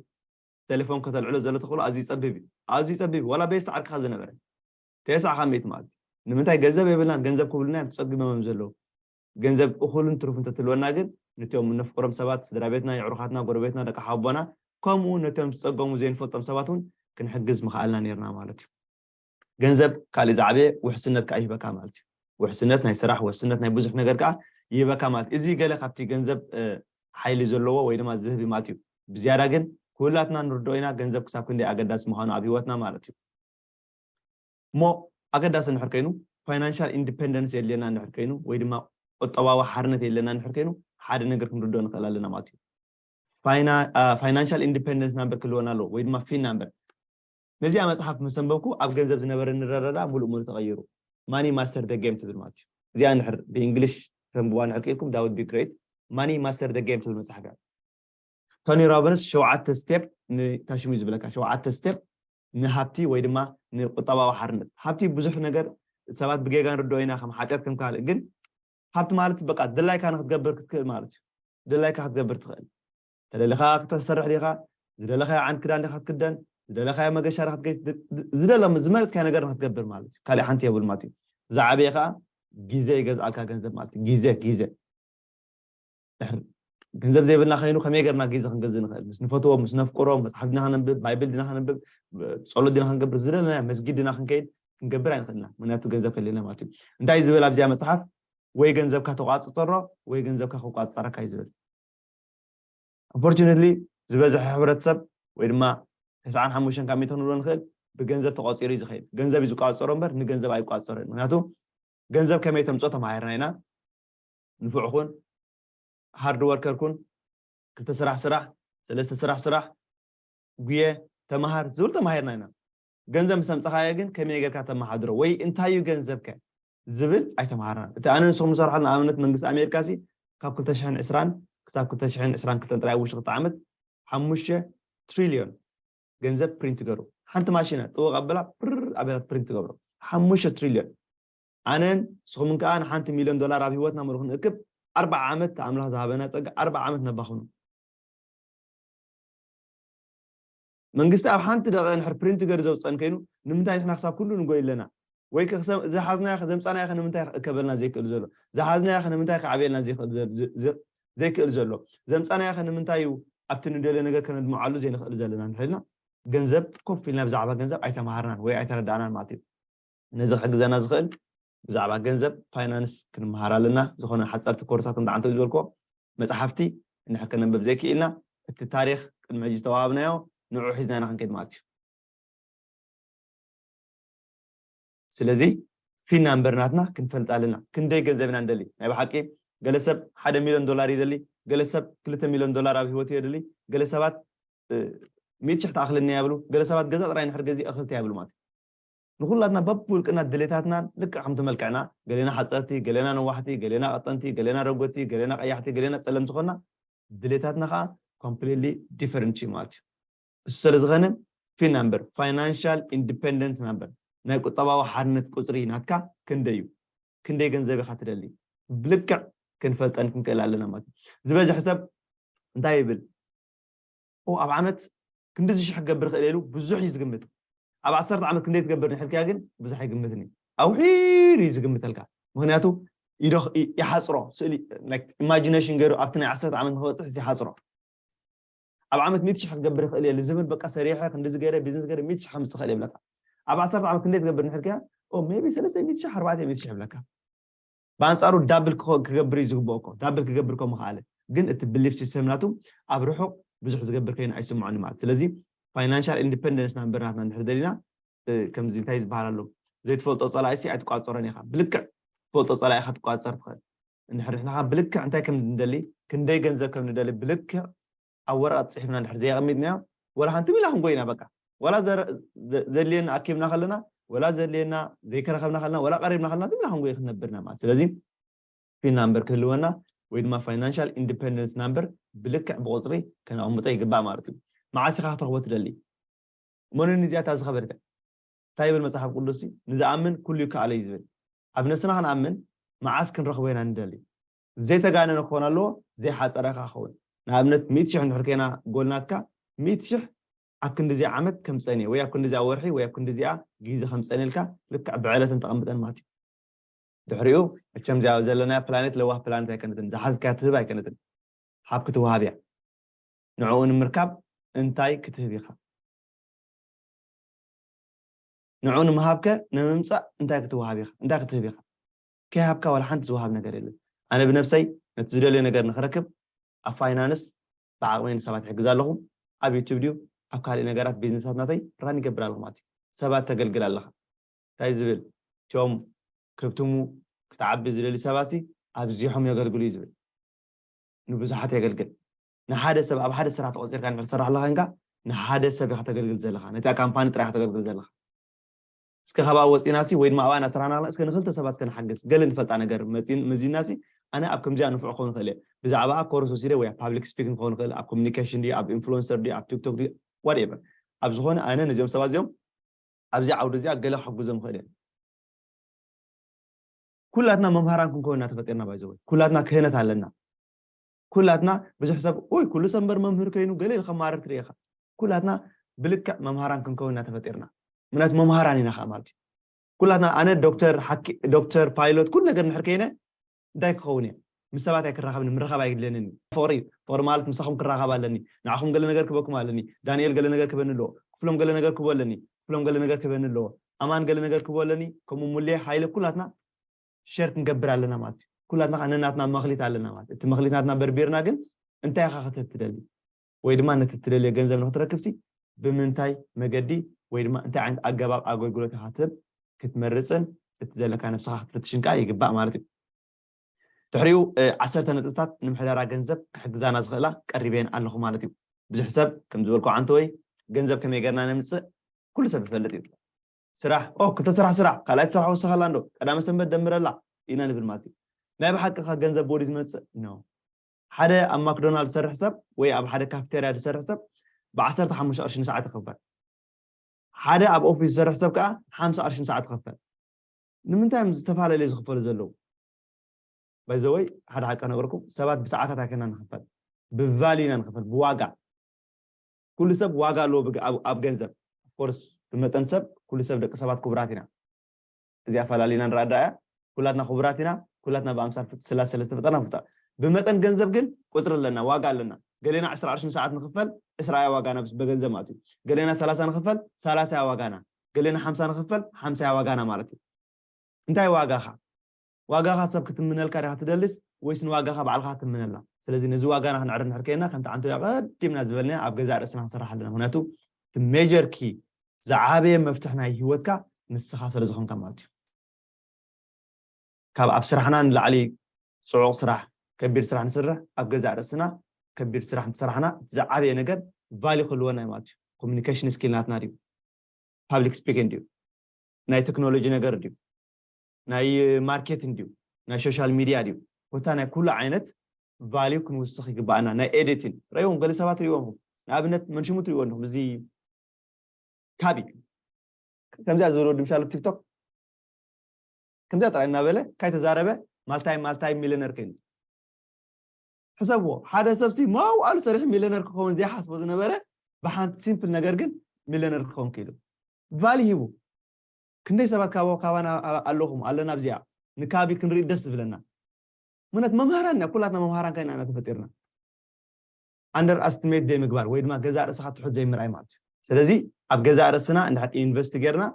ቴሌፎን ከተልዕሎ ዘሎ ተኽእሎ ኣዝዩ ይፀብብ እዩ ኣዝዩ ይፀብብ እዩ ዋላ ቤስቲ ዓርክኻ ዝነበረ ተስዓ ካብ ሚእቲ ማለት እዩ ንምንታይ ገንዘብ የብልናን ገንዘብ ክብሉና እዮም ተፀጊሞም እዮም ዘለዉ ገንዘብ እኹልን ትሩፍ እንተትህልወና ግን ነቶም እነፍቅሮም ሰባት፣ ስድራቤትና፣ የዕሩኻትና፣ ጎረቤትና፣ ደቂ ሓውቦና፣ ከምኡ'ውን ነቶም ዝጸገሙ ዘይንፈልጦም ሰባት እውን ክንሕግዝ ምኸኣልና ኔርና ማለት እዩ። ገንዘብ ካልእ ዝዓበየ ውሕስነት ከኣ ይህበካ ማለት እዩ። ውሕስነት ናይ ስራሕ፣ ውሕስነት ናይ ብዙሕ ነገር ከኣ ይህበካ ማለት እዩ። እዚ ገለ ካብቲ ገንዘብ ሓይሊ ዘለዎ ወይ ድማ ዝህብ እዩ ማለት እዩ። ብዝያዳ ግን ኩላትና ንርድኦ ኢና ገንዘብ ክሳብ ክንደይ ኣገዳሲ ምዃኑ ኣብ ህይወትና ማለት እዩ። እሞ ኣገዳሲ እንድሕር ከይኑ፣ ፋይናንሻል ኢንዲፐንደንስ የድልየና እንድሕር ከይኑ፣ ወይ ድማ ቁጠባዊ ሓርነት የድልየና እንድሕር ከይኑ፣ ሓደ ነገር ክንርድኦ ንኽእል ኣለና ማለት እዩ። ፋይናንሻል ኢንዲፐንደንስ ናምበር ክህልወና ኣለዎ፣ ወይ ድማ ፊን ናምበር። ነዚኣ መጽሓፍ ምስ ኣንበብኩ ኣብ ገንዘብ ዝነበረኒ ረረዳ ምሉእ ምሉእ ተቐይሩ። ማኒ ማስተር ዘ ጌም ትብል ማለት እዩ። እዚኣ እንድሕር ብእንግሊሽ ክተንብቡዋ እንድሕር ክኢልኩም ዳት ውድ ቢ ግሬት። ማኒ ማስተር ዘ ጌም ትብል መጽሓፍ እያ። ቶኒ ሮቢንስ ሸውዓተ ስቴፕ ንታሽሙ እዩ ዝብለካ፣ ሸውዓተ ስቴፕ ንሃብቲ ወይ ድማ ንቁጠባዊ ሓርነት ሃብቲ ብዙሕ ነገር ሰባት ብጌጋ ንርድኦ ኢና ከም ሓጢኣት ከም ካልእ ግን ሃብቲ ማለት በቃ ድላይካ ንክትገብር ክትክእል ማለት እዩ ድላይካ ክትገብር ትኽእል ተደሊኻ ክተሰርሕ ዲኻ ዝደለኻዮ ዓይነት ክዳን ዲኻ ክትክደን ዝደለኻዮ መገሻ ዲኻ ክትገ ዝደለ ዝመረጽካዮ ነገር ንክትገብር ማለት እዩ ካልእ ሓንቲ የብሉ ማለት እዩ ዝዓበየ ከዓ ግዜ ይገዝኣልካ ገንዘብ ማለት እዩ ግዜ ግዜ ገንዘብ ዘይብልና ከይኑ ከመይ ገርና ግዜ ክንገዝ ንኽእል ምስ ንፈትዎም ምስ ነፍቅሮም መፅሓፍ ድና ከነንብብ ባይብል ድና ከነንብብ ፀሎት ድና ክንገብር ዝደለና መስጊድ ድና ክንከይድ ክንገብር ኣይንኽእልና ምክንያቱ ገንዘብ ከለና ማለት እዩ እንታይ ዝብል ኣብዚኣ መፅሓፍ ወይ ገንዘብካ ተቋፅፀሮ ወይ ገንዘብካ ክቋፀረካ እዩ ዝብል ኣንፎርቹነትሊ ዝበዝሐ ሕብረተሰብ ወይ ድማ ተስዓን ሓሙሽተን ካብ ሚእቶ ክንብሎ ንኽእል ብገንዘብ ተቋፂሩ እዩ ዝኸይድ ገንዘብ እዩ ዝቋፀሮ እምበር ንገንዘብ ኣይቋፀሮ እዩ ምክንያቱ ገንዘብ ከመይ ተምፅኦ ተማሂርና ኢና ንፉዕ ኩን ሃርድ ወርከር ኩን ክልተ ስራሕ ስራሕ ሰለስተ ስራሕ ስራሕ ጉየ ተማሃር ዝብል ተማሂርና ኢና ገንዘብ ምስ ኣምጻኻዮ ግን ከመይ ጌርካ ተመሓድሮ ወይ እንታይ እዩ ገንዘብከ ዝብል ኣይተምሃርናን እቲ ኣነ ንስኹም ንሰርሖ ንኣብነት መንግስቲ ኣሜሪካ ሲ ካብ 220 ክሳብ 222 ጥራይ ኣብ ውሽጢ ክልተ ዓመት ሓሙሽተ ትሪልዮን ገንዘብ ፕሪንት ገሩ ሓንቲ ማሽነ ጥወቕ ኣብላ ፕር ኣቤላ ፕሪንት ትገብሮ ሓሙሽተ ትሪልዮን ኣነን ንስኹምን ከኣ ንሓንቲ ሚልዮን ዶላር ኣብ ህይወትና ምሩ ክንእክብ ኣርብዓ ዓመት እቲ ኣምላኽ ዝሃበና ጸጋ ኣርብዓ ዓመት ነባኽኖ። መንግስቲ ኣብ ሓንቲ ደቒቕ እንድሕር ፕሪንት ገሩ ዘውጽኣን ከይኑ ንምንታይ ንሕና ክሳብ ኩሉ ንጎይ ኣለና? ወይከ ክሰ ዝሓዝናዮኸ ዘምጻናዮኸ ንምንታይ ክእከበልና ዘይክእል ዘሎ? ዝሓዝናዮኸ ንምንታይ ክዓብየልና ዘይክእል ዘይክእል ዘሎ? ዘምጻናዮኸ ንምንታይ እዩ ኣብቲ ንደልዮ ነገር ከነድምዓሉ ዘይንኽእል ዘለና እንድሕር ኢልና ገንዘብ ኮፍ ኢልና ብዛዕባ ገንዘብ ኣይተማሃርናን ወይ ኣይተረዳእናን ማለት እዩ። ነዚ ክሕግዘና ዝኽእል ብዛዕባ ገንዘብ ፋይናንስ ክንመሃር ኣለና ዝኾነ ሓጸርቲ ኮርሳት ከም ዳዓንተው ዝበልክዎ መጽሓፍቲ እንድሕር ከነንብብ ዘይክኢልና እቲ ታሪኽ ቅድሚ ሕጂ ዝተዋሃብናዮ ንዑዑ ሒዝና ኢና ክንከይድ ማለት እዩ ስለዚ ፊን ናምበር ናትና ክንፈልጥ ኣለና ክንደይ ገንዘብ ኢና ንደሊ ናይ ብሓቂ ገለ ሰብ ሓደ ሚልዮን ዶላር ይደሊ ገለ ሰብ ክልተ ሚልዮን ዶላር ኣብ ህይወቱ የድሊ ገለ ሰባት ሚእቲ ሽሕ ትኣኽለኒ እያ ይብሉ ገለ ሰባት ገዛ ጥራይ ንድሕር ገዚእ እኽልቲ እያ ይብሉ ማለት እዩ ንኹላትና በብውልቅና ድሌታትናን ልክዕ ከምቲ መልክዕና ገሌና ሓጸርቲ ገሌና ነዋሕቲ ገሌና ቀጠንቲ ገሌና ረጎድቲ ገሌና ቀያሕቲ ገሌና ጸለምቲ ኮና ድሌታትና ከኣ ኮምፕሊትሊ ዲፈረንት እዩ ማለት እዩ እሱ ሰለዝኸነ ፊና እምበር ፋይናንሻል ኢንዲፐንደንት ኢና እምበር ናይ ቁጠባዊ ሓርነት ቁጽሪ ናትካ ክንደይ እዩ ክንደይ ገንዘብ ኢኻ ትደሊ ብልክዕ ክንፈልጠን ክንክእል ኣለና ማለት እዩ ዝበዝሕ ሰብ እንታይ ይብል ኦ ኣብ ዓመት ክንድዚ ሽሕ ክገብር ይኽእል እየ ኢሉ ብዙሕ እዩ ዝግምት። ኣብ ዓሰርተ ዓመት ክንደይ ትገብር ንሕልክያ ግን ብዙሕ ኣይግምትን እዩ። ኣውሒዱ እዩ ዝግምተልካ ምክንያቱ ይሓፅሮ ስእሊ ኢማጂነሽን ገይሩ ኣብቲ ናይ ዓሰርተ ዓመት ንክበፅሕስ ይሓፅሮ ኣብ ዓመት ሚእቲ ሽሕ ክገብር ይኽእል እየ ልዝብል በቃ ሰሪሐ ክንዲዚ ገይረ ቢዝነስ ገይረ ሚእቲ ሽሕ ከምስ ትኽእል ይብለካ ኣብ ዓሰርተ ዓመት ክንደይ ትገብር ንሕልክያ ሜቢ ሰለስተ ሚእቲ ሽሕ ኣርባዕተ ሚእቲ ሽሕ ይብለካ ብኣንጻሩ ዳብል ክገብር እዩ ዝግብኦ እኮ ዳብል ክገብር እኮ ምኸኣለ ግን እቲ ብሊፍ ሲስተም ናቱ ኣብ ርሑቕ ብዙሕ ዝገብር ከይኑ ኣይስምዖን ማለት ስለዚ ፋይናንሻል ኢንዲፐንደንስ ናብ ምበር ናትና እንድሕር ደሊና ከምዚ እንታይ ዝበሃል ኣሎ ዘይትፈልጦ ጸላኢሲ ኣይትቋጸሮን ኢኻ ብልክዕ ትፈልጦ ጸላኢ ኢኻ ትቋጸር ትኽእል እንድሕር ንሕና ብልክዕ እንታይ ከም ንደሊ ክንደይ ገንዘብ ከም ንደሊ ብልክዕ ኣብ ወረቐት ጽሒፍና እንድሕር ዘየቐሚጥናዮ ወላ ሓንቲ ሚላ ክንጎይ ኢና በቃ ወላ ዘድልየና ኣኪብና ከለና ወላ ዘድልየና ዘይከረኸብና ከለና ወላ ቀሪብና ከለና ዝምላ ክንጎይ ክንነብር ኢና ማለት ስለዚ ፒን ናምበር ክህልወና ወይ ድማ ፋይናንሻል ኢንዲፐንደንስ ናምበር ብልክዕ ብቁፅሪ ከነቕምጦ ይግባእ ማለት እዩ መዓስ ኢኻ ክትረኽቦ ትደሊ መንን እዚኣታ ዝኸበድከ እንታይ ይብል መፅሓፍ ቅዱስ ንዝኣምን ኩሉ ይከኣሎ እዩ ዝብል ኣብ ነብስና ክንኣምን መዓስ ክንረኽቦ ኢና ንደሊ ዘይተጋነነ ክኾን ኣለዎ ዘይሓጸረ ከኣ ክኸውን ንኣብነት ሚእቲ ሽሕ እንድሕር ኴና ጎል ናትካ ሚእቲ ሽሕ ኣብ ክንድዚኣ ዓመት ከም ጸንየ ወይ ኣብ ክንድዚኣ ወርሒ ወይ ኣብ ክንድዚኣ ጊዘ ከም ጸንየልካ ልክዕ ብዕለተን ተቐምጠን ማትዩ ድሕሪኡ መቸም እዚኣ ዘለናያ ፕላኔት ለዋህ ፕላኔት ኣይከነትን ዝሓዝካያ ትህብ ኣይከነትን ሓብ ክትወሃብ እያ ንዕኡ ንምርካብ እንታይ ክትህብ ኢኻ ንዑ ንምሃብከ ንምምጻእ እንታይ ክትወሃብ ኢኻ እንታይ ክትህብ ኢኻ ከይሃብካ ዋላ ሓንቲ ዝወሃብ ነገር የለን። ኣነ ብነብሰይ ነቲ ዝደልዮ ነገር ንኽረክብ ኣብ ፋይናንስ ብዓቕመይ ንሰባት ይሕግዝ ኣለኹ፣ ኣብ ዩቱብ ድዩ ኣብ ካልእ ነገራት ቢዝነሳት ናተይ ራን ይገብር ኣለኹ ማለት እዩ። ሰባት ተገልግል ኣለኻ እንታይ ዝብል እቶም ከብትሙ ክትዓቢ ዝደልዩ ሰባትሲ ኣብዚሖም የገልግሉ እዩ ዝብል። ንብዙሓት የገልግል ንሓደ ሰብ ኣብ ሓደ ስራሕ ተቖጺርካ እንድሕር ትሰርሕ ኣለኻ ኮንካ ንሓደ ሰብ ኢኻ ተገልግል ዘለኻ ነታ ካምፓኒ ጥራይ ኢኻ ተገልግል ዘለኻ። እስከ ካብኣ ወጺና ሲ ወይ ድማ ኣብኣ እናሰራሕና ከለና እስከ ንክልተ ሰባት እስከ ንሓግዝ ገለ ንፈልጣ ነገር መዚና ሲ ኣነ ኣብ ከምዚኣ ንፉዕ ክኸውን ይኽእል እየ ብዛዕባኣ ኮርስ ወሲደ ወይ ኣብ ፓብሊክ ስፒኪንግ ክኸውን ይኽእል ኣብ ኮሚኒኬሽን ድዩ ኣብ ኢንፍሉዌንሰር ድዩ ኣብ ቲክቶክ ድዩ ዋትኤቨር ኣብ ዝኾነ ኣነ ነዚኦም ሰባት እዚኦም ኣብዚ ዓውዲ እዚኣ ገለ ክሕግዞም ይኽእል እየ ኩላትና መምሃራን ክንከውን ኢና ተፈጢርና ባይዘወይ ኩላትና ክህነት ኣለና ኩላትና ብዙሕ ሰብ ኡይ ኩሉ ሰብ እምበር መምህር ከይኑ ገለ ኢሉ ከማርር ትርኢ ኢኻ ኩላትና ብልክዕ መምሃራን ክንከውን ኢና ተፈጢርና ምክንያቱ መምሃራን ኢና ከኣ ማለት እዩ ኩላትና ኣነ ዶክተር ሓኪ ዶክተር ፓይሎት ኩሉ ነገር እንድሕር ከይነ እንታይ ክኸውን እየ ምስ ሰባት ኣይክራኸብን ምርኻብ ኣይድልየንን እዩ ፍቕሪ እዩ ፍቕሪ ማለት ምሳኹም ክራኸብ ኣለኒ ንዓኹም ገለ ነገር ክበኩም ኣለኒ ዳንኤል ገለ ነገር ክበኒ ኣለዎ ክፍሎም ገለ ነገር ክቦ ኣለኒ ክፍሎም ገለ ነገር ክበኒ ኣለዎ ኣማን ገለ ነገር ክቦ ኣለኒ ከምኡ ሙሌ ሃይለ ኩላትና ሸር ክንገብር ኣለና ማለት እዩ ኩላትና ከ ነናትና መክሊት ኣለና ማለት እቲ መክሊት ናትና በርቢርና ግን እንታይ ኢካ ክትህብ ትደሊ ወይ ድማ ነቲ ትደልዮ ገንዘብ ንክትረክብሲ ብምንታይ መገዲ ወይ ድማ እንታይ ዓይነት ኣገባብ ኣገልግሎት ኢካ ትህብ ክትመርፅን እቲ ዘለካ ነብስካ ክትፍትሽን ከዓ ይግባእ ማለት እዩ ድሕሪኡ ዓሰርተ ነጥብታት ንምሕደራ ገንዘብ ክሕግዛና ዝኽእላ ቀሪበን ኣለኹ ማለት እዩ ብዙሕ ሰብ ከም ዝበልኩ ዓንተወይ ገንዘብ ከመይ ገርና ነምፅእ ኩሉ ሰብ ይፈልጥ እዩ ስራሕ ኦህ ክልተ ስራሕ ስራሕ ካልኣይቲ ስራሕ ወስኸላ እንዶ ቀዳመ ሰንበት ደምረላ ኢና ንብል ማለት እዩ ናይ ብሓቂ ከ ገንዘብ ቦዲ ዝመጽእ ን ሓደ ኣብ ማክዶናልድ ዝሰርሕ ሰብ ወይ ኣብ ሓደ ካፍተርያ ዝሰርሕ ሰብ ብዓሰርተ ሓሙሽተ ቅርሺ ንሰዓት ይኽፈል ሓደ ኣብ ኦፊስ ዝሰርሕ ሰብ ከዓ ሓምሳ ቅርሺ ንሰዓት ይኽፈል ንምንታይ እዮም ዝተፈላለዩ ዝኽፈሉ ዘለዉ ባይዘወይ ሓደ ሓቂ ነገርኩም ሰባት ብሰዓታት ኣይከና ንኽፈል ብቫልዩ ኢና ንኽፈል ብዋጋ ኩሉ ሰብ ዋጋ ኣለዎ ኣብ ገንዘብ of course ብመጠን ሰብ ኩሉ ሰብ ደቂ ሰባት ክቡራት ኢና እዚኣ ኣፈላሊና ንርኣ ድኣ እያ ኩላትና ክቡራት ኢና ኩላትና ብኣምሳል ፍት ስላሴ ስለ ዝተፈጠርና ክቡታት ብመጠን ገንዘብ ግን ቁጽሪ ኣለና ዋጋ ኣለና ገሌና ዕስራ ቅርሺ ንሰዓት ንኽፈል ዕስራ እያ ዋጋና ምስ በገንዘብ ማለት እዩ ገሌና ሰላሳ ንኽፈል ሰላሳ እያ ዋጋና ገሌና ሓምሳ ንኽፈል ሓምሳ እያ ዋጋና ማለት እዩ እንታይ ዋጋኻ ዋጋኻ ሰብ ክትምነልካ ዲኻ ትደሊስ ወይስ ንዋጋኻ ባዕልኻ ክትምነላ? ስለዚ ነዚ ዋጋና ክንዕሪ እንድሕር ኴንና ከምቲ ዓንተቢያ ኣቐዲምና ዝበልናዮ ኣብ ገዛእ ርእስና ክንሰርሕ ኣለና ምኽንያቱ እቲ ሜጀር ኪ ዝዓበየ መፍትሕ ናይ ሂወትካ ንስኻ ስለ ዝኾንካ ማለት እዩ። ካብ ኣብ ስራሕና ንላዕሊ ጽዑቕ ስራሕ ከቢድ ስራሕ ንስርሕ ኣብ ገዛእ ርእስና ከቢድ ስራሕ እንተሰራሕና እቲ ዝዓበየ ነገር ቫልዩ ክህልወና እዩ ማለት እዩ። ኮሙኒኬሽን ስኪል ናትና ድዩ? ፓብሊክ ስፒኪንግ ድዩ? ናይ ቴክኖሎጂ ነገር ድዩ? ናይ ማርኬቲንግ ድዩ ናይ ሾሻል ሚድያ ድዩ ኮታ ናይ ኩሉ ዓይነት ቫልዩ ክንውስኽ ይግባኣና ናይ ኤዲቲን ረእዎም ገለ ሰባት ርእዎም ንኣብነት መንሽሙ ትርእዎ ኣለኹም እዚ ካቢ ከምዚኣ ዝበለ ወዲ ምሻሉ ቲክቶክ ከምዚኣ ጥራይ እናበለ ካይ ተዛረበ ማልታይ ማልታይ ሚሊነር ኮይኑ ሕሰብዎ ሓደ ሰብሲ መዋእሉ ሰሪሑ ሚሊነር ክኸውን ዘይሓስቦ ዝነበረ ብሓንቲ ሲምፕል ነገር ግን ሚሊነር ክኸውን ክኢሉ ቫሊ ሂቡ ክንደይ ሰባት ካብ ካባና ኣለኹም ኣለና ኣብዚኣ ንካቢ ክንሪኢ ደስ ዝብለና ምክንያት መምሃራን ኢና ኩላትና መምሃራን ካይና ኢና ተፈጢርና ኣንደር ኣስትሜት ዘይምግባር ወይ ድማ ገዛእ ርእስኻ ትሑት ዘይምርኣይ ማለት እዩ ስለዚ ኣብ ገዛእ ርእስና እንድሕር ኢንቨስት ጌርና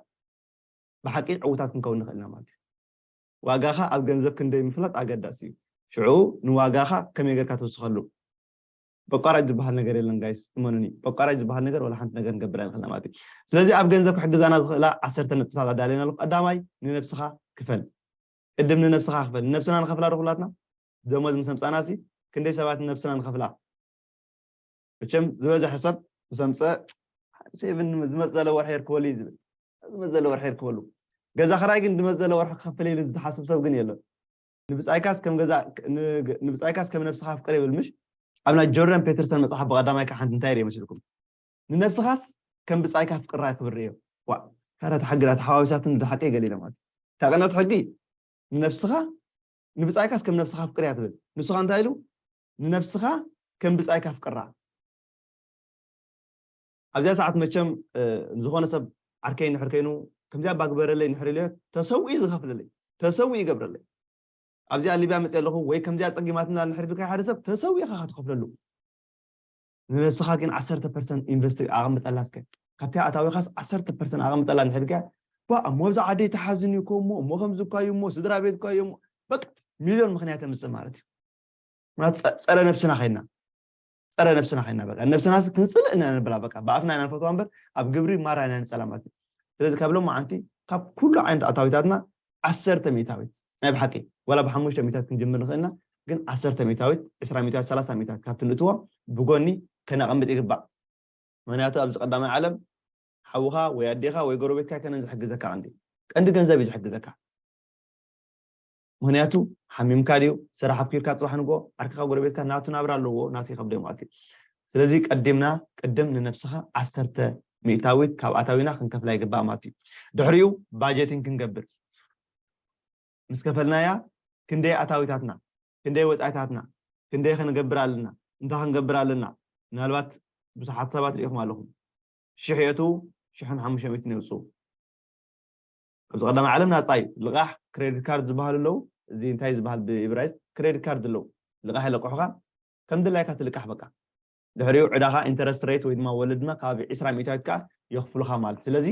ብሓቂ ዕውታት ክንከውን ንኽእል ኢና ማለት እዩ ዋጋኻ ኣብ ገንዘብ ክንደይ ምፍላጥ ኣገዳሲ እዩ ሽዑ ንዋጋኻ ከመይ ጌርካ ትውስኸሉ በቋራጭ ዝባሃል ነገር የለን ጋይስ እመኑኒ በቋራጭ ዝባሃል ነገር ወላ ሓንቲ ነገር ንገብር ኣይንኽእልና ማለት እዩ ስለዚ ኣብ ገንዘብ ክሕግዛና ዝኽእላ ዓሰርተ ነጥብታት ኣዳልየን ኣለኹ ቀዳማይ ንነብስኻ ክፈል ቅድም ንነብስኻ ክፈል ንነብስና ንኸፍላ ዶ ኩላትና ደሞዝ ምስ ኣምፃና ሲ ክንደይ ሰባት ንነብስና ንኸፍላ መቸም ዝበዝሐ ሰብ ምስ ኣምፀ ሴቭን ዝመፅ ዘለ ወርሒ የርክበሉ እዩ ዝብል ዝመፅ ዘለ ወርሒ የርክበሉ ገዛ ክራይ ግን ድመፅ ዘለ ወርሒ ክኸፍል ኢሉ ዝሓስብ ሰብ ግን የለን ንብጻይካስ ከም ገዛእ ን ንብጻይካስ ከም ነብስኻ ኣፍቅር ይብል ምሽ ኣብ ናይ ጆርዳን ፔትርሰን መጽሓፍ ብቀዳማይ ክዓ ሓንቲ እንታይ ሪኤ መስልኩም ንነብስኻስ ከም ብጻይካ ኣፍቅራ ክብል ሪኤዮ ዋእ ካዳ እታ ሕጊ ዳኣ ተሓዋዊሳትኒ ዶ ሓቀይ ገለ ኢለ ማለት እታ ቀንዲ ሕጊ ንነብስኻ ንብጻይካስ ከም ነብስኻ ኣፍቅር እያ ትብል ንሱ ኸኣ እንታይ ኢሉ ንነብስኻ ከም ብጻይካ ኣፍቅራ ኣብዚኣ ሰዓት መቸም ንዝኾነ ሰብ ዓርከይ እንድሕር ከይኑ ከምዚኣ እባ ግበረለይ እንድሕር ኢለዮ ተሰዊኡ ዝኸፍለለይ ተሰዊኡ ይገብረለይ ኣብዚኣ ሊብያ መፅየ ኣለኹ ወይ ከምዚኣ ፀጊማትና እንድሕር ኢልካዮ ሓደ ሰብ ተሰዊኡ ኢኻ ትኸፍለሉ ንነብስኻ ግን ዓሰርተ ፐርሰንት ኢንቨስት ኣቐምጠላ እስከ ካብቲ ኣታዊኻስ ዓሰርተ ፐርሰንት ኣቐምጠላ እንድሕር ኢልካያ ባ እሞ ኣብዛ ዓደይ ተሓዝን እዩ ኮሞ እሞ ከምዚ እኳ እዩ እሞ ስድራ ቤት እኳ እዩ እሞ በቃ ሚልዮን ምክንያት የምፅእ ማለት እዩ ምክንያቱ ፀረ ነብስና ከይና ፀረ ነብስና ኮይና በቃ ነብስና ክንፅልእ ኢና ንብላ በቃ ብኣፍና ኢና ንፈትዋ እምበር ኣብ ግብሪ ማራ ኢና ንፀላማት እዩ ስለዚ ካብ ሎማዓንቲ ካብ ኩሉ ዓይነት ኣታዊታትና ዓሰርተ ሚእታዊት ናይ ብሓቂ ዋላ ብሓሙሽተ ሚእታት ክንጅምር ንኽእል ኢና ግን ዓሰርተ ሚእታዊት ዕስራ ሚእታዊት ሰላሳ ሚእታት ካብቲ ንእትዎ ብጎኒ ከነቐምጥ ይግባእ ምክንያቱ ኣብዚ ቀዳማይ ዓለም ሓውኻ ወይ ኣዴኻ ወይ ጎረቤትካ ኣይኮነን ዝሕግዘካ ቀንዲ ቀንዲ ገንዘብ እዩ ዝሕግዘካ ምክንያቱ ሓሚምካ ድዩ ስራሕ ኣብኪርካ ጽባሕ ንግሆ ዓርክካ ጎረቤትካ ናቱ ናብራ ኣለዎ ናቱ ይከብደዮም ኣትዩ ስለዚ ቀዲምና ቅድም ንነብስካ ዓሰርተ ሚእታዊት ካብ ኣታዊና ክንከፍላ ይግባእ ማለት እዩ ድሕሪኡ ባጀቲን ክንገብር ምስ ከፈልናያ ክንደይ ኣታዊታትና ክንደይ ወጻኢታትና ክንደይ ክንገብር ኣለና እንታይ ክንገብር ኣለና ምናልባት ብዙሓት ሰባት ርኢኹም ኣለኹም ሽሕ የእትዉ ሽሕን ሓሙሽተ ሚእትን የውጽኡ ኣብዚ ቀዳማይ ዓለም ናጻ እዩ ልቓሕ ክረዲት ካርድ ዝበሃሉ ኣለው እዚ እንታይ ዝበሃል ብኢብራይስጥ ክረዲት ካርድ ኣለው ልቓሕ የለቅሑኻ ከም ድላይካ ትልቃሕ በቃ ድሕሪኡ ዕዳኻ ኢንተረስት ሬት ወይ ድማ ወለድ ድማ ከባቢ ዕስራ ሚእታዊት ከዓ የኽፍሉኻ ማለት ስለዚ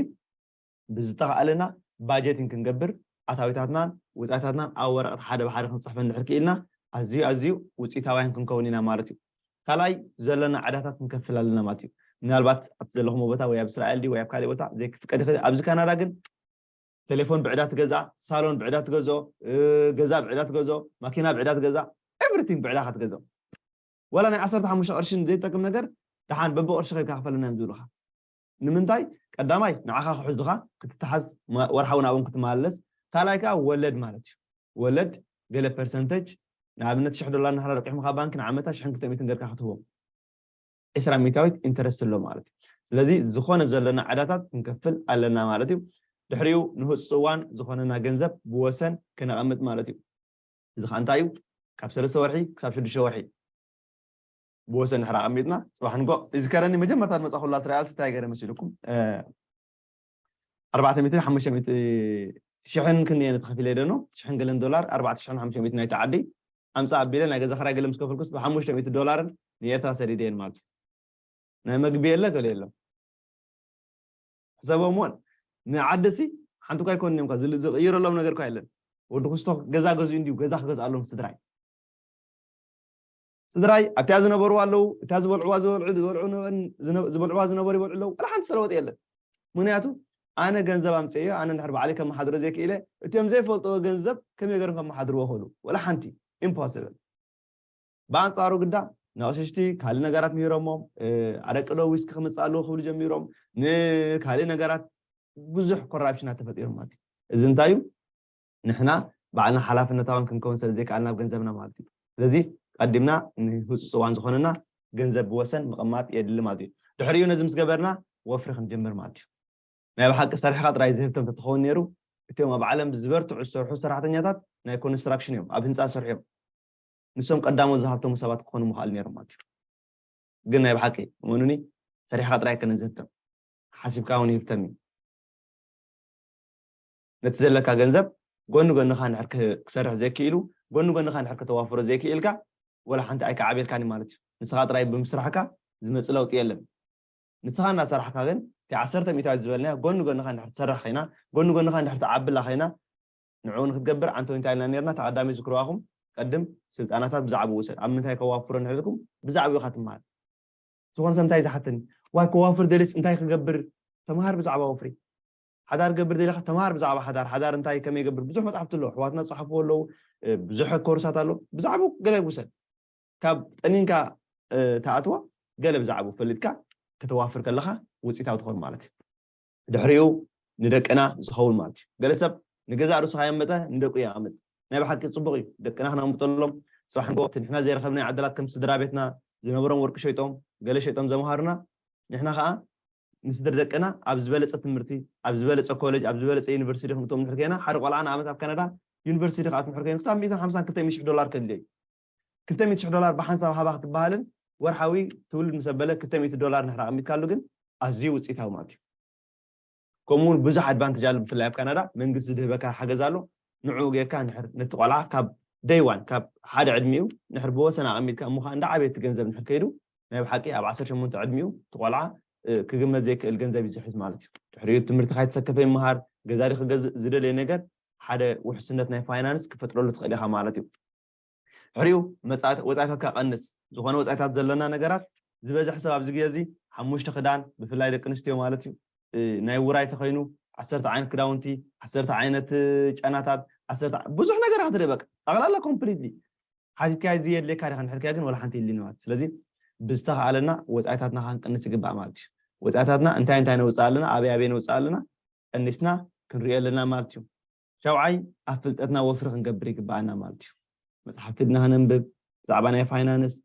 ብዝተኸኣለና ባጀቲን ክንገብር ኣታዊታትናን ወፃኢታትናን ኣብ ወረቐት ሓደ ብሓደ ክንፅሕፈን ድሕር ክኢልና ኣዝዩ ኣዝዩ ውፅኢታውያን ክንከውን ኢና ማለት እዩ ካልኣይ ዘለና ዕዳታት ክንከፍል ኣለና ማለት እዩ ምናልባት ኣብቲ ዘለኹሞ ቦታ ወይ ኣብ እስራኤል ድዩ ወይ ኣብ ካሊእ ቦታ ዘይክፍቀድ ይኽእል ኣብዚ ካናዳ ግን ቴሌፎን ብዕዳ ትገዝኣ ሳሎን ብዕዳ ትገዝኦ ገዛ ብዕዳ ትገዝኦ ማኪና ብዕዳ ትገዝኣ ኤቭሪቲንግ ብዕዳ ካ ትገዝኦ ወላ ናይ ዓሰርተ ሓሙሽተ ቅርሽን ዘይጠቅም ነገር ደሓን በብቕርሺ ከይካ ክፈለና እዮም ዝብሉኻ ንምንታይ ቀዳማይ ንዓኻ ክሕዙኻ ክትተሓዝ ወርሓዊ ናብኦም ክትመላለስ ካልኣይ ከኣ ወለድ ማለት እዩ ወለድ ገለ ፐርሰንተጅ ንኣብነት ሽሕ ዶላር ንሓራ ለቂሖም ካብ ባንኪ ንዓመታ ሽሕን ክልተ ሚእትን ገርካ ክትህቦም ዕስራ ሚእታዊት ኢንተረስት ኣሎ ማለት እዩ ስለዚ ዝኾነ ዘለና ዕዳታት ክንከፍል ኣለና ማለት እዩ ድሕሪኡ ንህፁፅ እዋን ዝኾነና ገንዘብ ብወሰን ክነቐምጥ ማለት እዩ እዚ ከዓ እንታይ እዩ ካብ ሰለስተ ወርሒ ክሳብ ሽዱሽተ ወርሒ ብወሰን ድሕሪ ኣቀሚጥና ጽባሕ ንጎእ ይዝከረኒ መጀመርታ ዝመጻኹላ እስራኤልሲ እንታይ ገረ መሲልኩም ኣርባዕተ ሚእትን ሓሙሽተ ሚእቲ ሽሕን ክንደየ ንተኸፊለ ደኖ ሽሕን ገለን ዶላር ኣርባዕተ ሽሕን ሓሙሽተ ሚእቲ ናይቲ ዓዲ ኣምጻእ ኣቢለ ናይ ገዛ ክራይ ገለ ምስ ከፈልኩስ ብሓሙሽተ ሚእቲ ዶላርን ንኤርትራ ሰዲደየን ማለት እዩ ናይ መግቢ የለ ገለ የሎ ሕሰቦም እውን ንዓደሲ ሓንቲ እኳ ኣይኮንን እዮም ዝቕይረሎም ነገር እኳ የለን ወዲ ክስቶ ገዛ ገዝኡ እንዲዩ ገዛ ክገዝኣሎም ስድራይ ስድራይ ኣብቲኣ ዝነበርዋ ኣለዉ፣ እታ ዝበልዕዋ ዝበልዑ ዝበልዑ ዝበልዕዋ ዝነበሩ ይበልዑ ኣለዉ፣ ዋላ ሓንቲ ዝተለወጠ የለን። ምኽንያቱ ኣነ ገንዘብ ኣምጺኤዮ፣ ኣነ እንድሕር ባዕለይ ከመሓድሮ ዘይክኢለ፣ እቲኦም ዘይፈልጥዎ ገንዘብ ከመይ ገይሮም ከመሓድርዎ ይኽእሉ? ዋላ ሓንቲ! ኢምፖስብል! ብኣንጻሩ ግዳ ነቕሽሽቲ ካልእ ነገራት ምሂሮሞም፣ ኣደቅዶ ዊስኪ ክምጽእ ኣለዎ ክብሉ ጀሚሮም፣ ንካልእ ነገራት ብዙሕ ኮራፕሽናት ተፈጢሩ ማለት እዩ። እዚ እንታይ እዩ? ንሕና ባዕልና ሓላፍነታውያን ክንከውን ስለ ዘይከኣልና ኣብ ገንዘብና ማለት እዩ። ስለዚ ቀዲምና ንህጹጽ እዋን ዝኾነና ገንዘብ ብወሰን ምቕማጥ የድሊ ማለት እዩ። ድሕሪኡ ነዚ ምስ ገበርና ወፍሪ ክንጅምር ማለት እዩ። ናይ ብሓቂ ሰሪሕኻ ጥራይ ዝህብተም ተትኸውን ነይሩ እቲኦም ኣብ ዓለም ዝበርትዑ ዝሰርሑ ሰራሕተኛታት ናይ ኮንስትራክሽን እዮም፣ ኣብ ህንጻ ዝሰርሑ እዮም። ንሶም ቀዳሞት ዝሃብተሙ ሰባት ክኾኑ ምኽኣሉ ነይሮም ማለት እዩ። ግን ናይ ብሓቂ እመኑኒ ሰሪሕኻ ጥራይ ኣይከነን ዝህብተም ሓሲብካ እውን ይህብተም እዩ። ነቲ ዘለካ ገንዘብ ጎኒ ጎንኻ እንድሕር ክሰርሕ ዘይክኢሉ፣ ጎኒ ጎንኻ እንድሕር ከተዋፍሮ ዘይክኢልካ፣ ወላ ሓንቲ ኣይከዓብየልካን እዩ ማለት እዩ። ንስኻ ጥራይ ብምስራሕካ ዝመጽእ ለውጢ የለን። ንስኻ እናሰራሕካ ግን፣ እቲ ዓሰርተ ሚእታዊት ዝበልናዮ ጎኒ ጎንኻ እንድሕር ትሰርሕ ኸይና፣ ጎኒ ጎንኻ እንድሕር ትዓብላ ኸይና፣ ንዕኡ ንክትገብር ኣንቶኒ እንታይ ኢልና ኔርና፣ እቲ ቀዳሚ ዝክርዋ ኢኹም፣ ቀድም ስልጣናታት ብዛዕብኡ ውሰድ፣ ኣብ ምንታይ ከዋፍሮ እንድሕር ኢልኩም ብዛዕብኡ ኢኻ ትመሃር። ዝኾነ ሰብ እንታይ እዩ ዝሓተኒ፣ ዋይ ከዋፍር ደልየስ እንታይ ክገብር፣ ተመሃር ብዛዕባ ወፍሪ። ሓዳር ገብር ደሊካ ተማሃር ብዛዕባ ሓዳር ሓዳር እንታይ ከመይ ይገብር ብዙሕ መጻሕፍቲ ኣሎ ኣሕዋትና ዝጸሓፍዎ ኣለዉ ብዙሕ ኮርሳት ኣሎ ብዛዕቡ ገለ ውሰድ ካብ ጠኒንካ ተኣትዎ ገለ ብዛዕቡ ፈሊጥካ ከተዋፍር ከለካ ውጽኢታዊ ትኾን ማለት እዩ ድሕሪኡ ንደቅና ዝኸውን ማለት እዩ ገለ ሰብ ንገዛእ ርእሱ ካየመጠ ንደቁ የቐምጥ ናይ ብሓቂ ፅቡቕ እዩ ደቅና ክነቕምጠሎም ፅባሕ ንጎ እቲ ንሕና ዘይረኸብናዮ ዓደላት ከም ስድራ ቤትና ዝነበሮም ወርቂ ሸይጦም ገለ ሸይጦም ዘምሃሩና ንሕና ከዓ ንስድር ደቅና ኣብ ዝበለጸ ትምህርቲ፣ ኣብ ዝበለጸ ኮለጅ፣ ኣብ ዝበለጸ ዩኒቨርሲቲ ዲኹም እቶም እንድሕር ኴይና፣ ሓደ ቆልዓ ንኣብነት ኣብ ካናዳ ዩኒቨርሲቲ ክኣቱ እንድሕር ኮይኑ ክሳብ ሚእትን ሓምሳን ክልተ ሚእትን ሽሕ ዶላር ከድልዮ እዩ። ክልተ ሚእቲ ሽሕ ዶላር ብሓንሳብ ሃባ ክትበሃልን ወርሓዊ ትውልድ ምስ ኣበለ ክልተ ሚእቲ ዶላር እንድሕር ኣቐሚጥካሉ ግን ኣዝዩ ውጽኢታዊ ማለት እዩ። ከምኡ እውን ብዙሕ ኣድቫንተጅ ኣሎ ብፍላይ ኣብ ካናዳ መንግስቲ ዝድህበካ ሓገዝ ኣሎ ንዕኡ ጌርካ እንድሕር ነቲ ቆልዓ ካብ ደይ ዋን ካብ ሓደ ዕድሚኡ እንድሕር ብወሰን ኣቐሚጥካ እሞ ከኣ እንዳዓበየ እቲ ገንዘብ እንድሕር ከይዱ ናይ ብሓቂ ኣብ ዓሰርተ ሸሞንተ ዕድሚኡ እቲ ቆልዓ ክግመት ዘይክእል ገንዘብ እዩ ዝሕዝ ማለት እዩ። ድሕሪኡ ትምህርቲ ካይተሰከፈ ይመሃር፣ ገዛዲ ክገዝእ ዝደለዮ ነገር ሓደ ውሕስነት ናይ ፋይናንስ ክፈጥረሉ ትኽእል ኢኻ ማለት እዩ። ድሕሪኡ መጻእት ወጻኢታትካ ቀንስ፣ ዝኾነ ወጻኢታት ዘለና ነገራት ዝበዝሕ ሰብ ኣብዚ ግዜ እዚ ሓሙሽተ ክዳን ብፍላይ ደቂ ኣንስትዮ ማለት እዩ ናይ ውራይ ተኸይኑ ዓሰርተ ዓይነት ክዳውንቲ፣ ዓሰርተ ዓይነት ጨናታት፣ ዓሰርተ ብዙሕ ነገር ክትርኢ በቃ ጠቕላላ ኮምፕሊትሊ ሓቲትካዮ ዘየድልየካ ዲኻ እንድሕር ከ ግን ዋላ ሓንቲ የድልይን ማለት እዩ። ስለዚ ብዝተኻእለና ወጻኢታትና ከንቅንስ ይግባእ ማለት እዩ። ወጻኢታትና እንታይ እንታይ ነውጽእ ኣለና፣ ኣበይ ኣበይ ነውጽእ ኣለና ቀኒስና ክንሪኦ ኣለና ማለት እዩ። ሻውዓይ ኣብ ፍልጠትና ወፍሪ ክንገብር ይግበኣና ማለት እዩ። መጽሓፍቲ ድና ከነንብብ፣ ብዛዕባ ናይ ፋይናንስ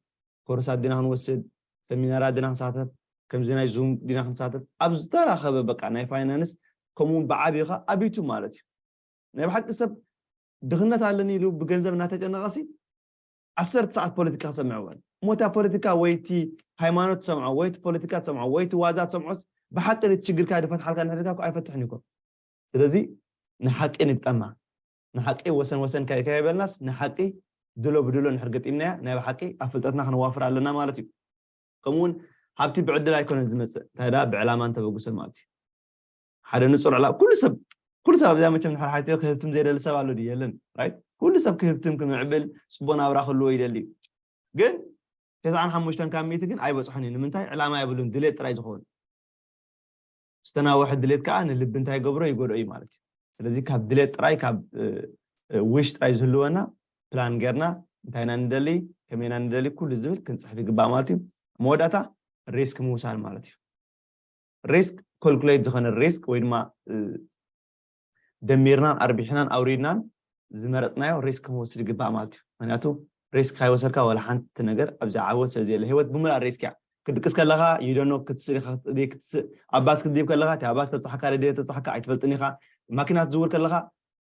ኮርሳት ድና ክንወስድ፣ ሰሚናራት ድና ክንሳተፍ፣ ከምዚ ናይ ዙም ድና ክንሳተፍ፣ ኣብ ዝተራኸበ በቃ ናይ ፋይናንስ ከምኡ ውን ብዓቢኡ ከኣ ኣብ ዩቱብ ማለት እዩ። ናይ ብሓቂ ሰብ ድኽነት ኣለኒ ኢሉ ብገንዘብ እናተጨነቐሲ ዓሰርተ ሰዓት ፖለቲካ ክሰምዕ ይውዕል እሞ እታ ፖለቲካ ወይ እቲ ሃይማኖት ትሰምዖ ወይ እቲ ፖለቲካ ትሰምዖ ወይ እቲ ዋዛ ትሰምዖስ ብሓቂ ነቲ ችግርካ ድፈትሓልካ እንድሕር ኢልካ እኮ ኣይፈትሕን እዩ እኮ ስለዚ ንሓቂ ንግጠማ ንሓቂ ወሰን ወሰን ከይ ከይበልናስ ንሓቂ ድሎ ብድሎ እንድሕር ገጢምናያ ናይ ብሓቂ ኣብ ፍልጠትና ክንዋፍር ኣለና ማለት እዩ ከምኡ እውን ሃብቲ ብዕድል ኣይኮነን ዝመፅእ እንታይ ደኣ ብዕላማን ተበግሶን ማለት እዩ ሓደ ንጹር ዕላማ ኩሉ ሰብ ኩሉ ሰብ ኣብዚኣ መቸም ድሕር ሓቲተ ክህብትም ዘይደሊ ሰብ ኣሎ ድዩ የለን ራይት ኩሉ ሰብ ክህብትም ክምዕብል ጽቡቕ ናብራ ክህልዎ ይደሊ ግን ተስዓን ሓሙሽተን ካብ ሚእቲ ግን ኣይበጽሖን እዩ ንምንታይ ዕላማ የብሉን ድሌት ጥራይ ዝኸውን ዝተናወሐ ድሌት ከዓ ንልቢ እንታይ ይገብሮ ይጎድኦ እዩ ማለት እዩ ስለዚ ካብ ድሌት ጥራይ ካብ ዊሽ ጥራይ ዝህልወና ፕላን ጌርና እንታይ ኢና ንደሊ ከመይ ኢና ንደሊ ኩሉ ዝብል ክንፅሕፍ ይግባእ ማለት እዩ መወዳእታ ሪስክ ምውሳድ ማለት እዩ ሪስክ ኮልኩሌት ዝኾነ ሪስክ ወይ ድማ ደሚርናን ኣርቢሕናን ኣውሪድናን ዝመረፅናዮ ሪስክ ክንወስድ ይግባእ ማለት እዩ ምክንያቱ ሪስክ ካይወሰድካ ዋላ ሓንቲ ነገር ኣብዚ ዓወት ስለዘየለ ሂወት ብምልኣ ሪስክ እያ ክትድቅስ ከለኻ ይደኖ ክትስእ ኢኻ ክትስእ ኣብ ባስ ክትድብ ከለኻ እቲ ኣብ ባስ ተብፅሓካ ደደ ተብፅሓካ ኣይትፈልጥን ኢኻ ማኪና ትዝውር ከለኻ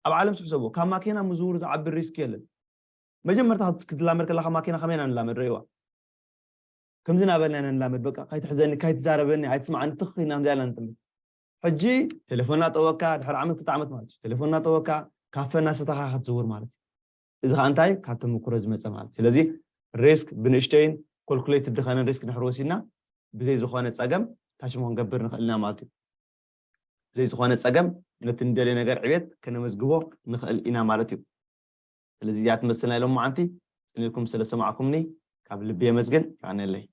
ኣብ ዓለም ስሕሰቦ ካብ ማኪና ምዝውር ዝዓቢ ሪስክ የለን መጀመርታ ክትላመድ ከለኻ ማኪና ከመይና ንላመድ ረእዋ ከምዚ ናበልና ኢና ንላመድ በቃ ካይትሕዘኒ ካይትዛረበኒ ኣይትስምዓኒ ትኽ ኢልና ከምዚኣ ኢልና ንጥምት ሕጂ ቴሌፎን እናጠወካ ድሕሪ ዓመት ክልተ ዓመት ማለት እዩ ቴሌፎን እናጠወካ ካፈ እናሰተኻ ክትዝውር ማለት እዩ እዚ ከዓ እንታይ ካብ ተመኩሮ ዝመፀ ማለት ስለዚ ሪስክ ብንእሽተይን ኮልኩሌትድ ዝኸነ ሪስክ ድሕሪ ወሲድና ብዘይ ዝኾነ ፀገም ታች ክንገብር ንኽእል ኢና ማለት እዩ ብዘይ ዝኾነ ፀገም ነቲ ንደልዮ ነገር ዕቤት ከነመዝግቦ ንኽእል ኢና ማለት እዩ ስለዚ እዚኣ ትመስል ናይ ሎምዓንቲ ጽን ኢልኩም ስለ ዝሰማዕኩምኒ ካብ ልቢ የመስግን። የቀንየለይ።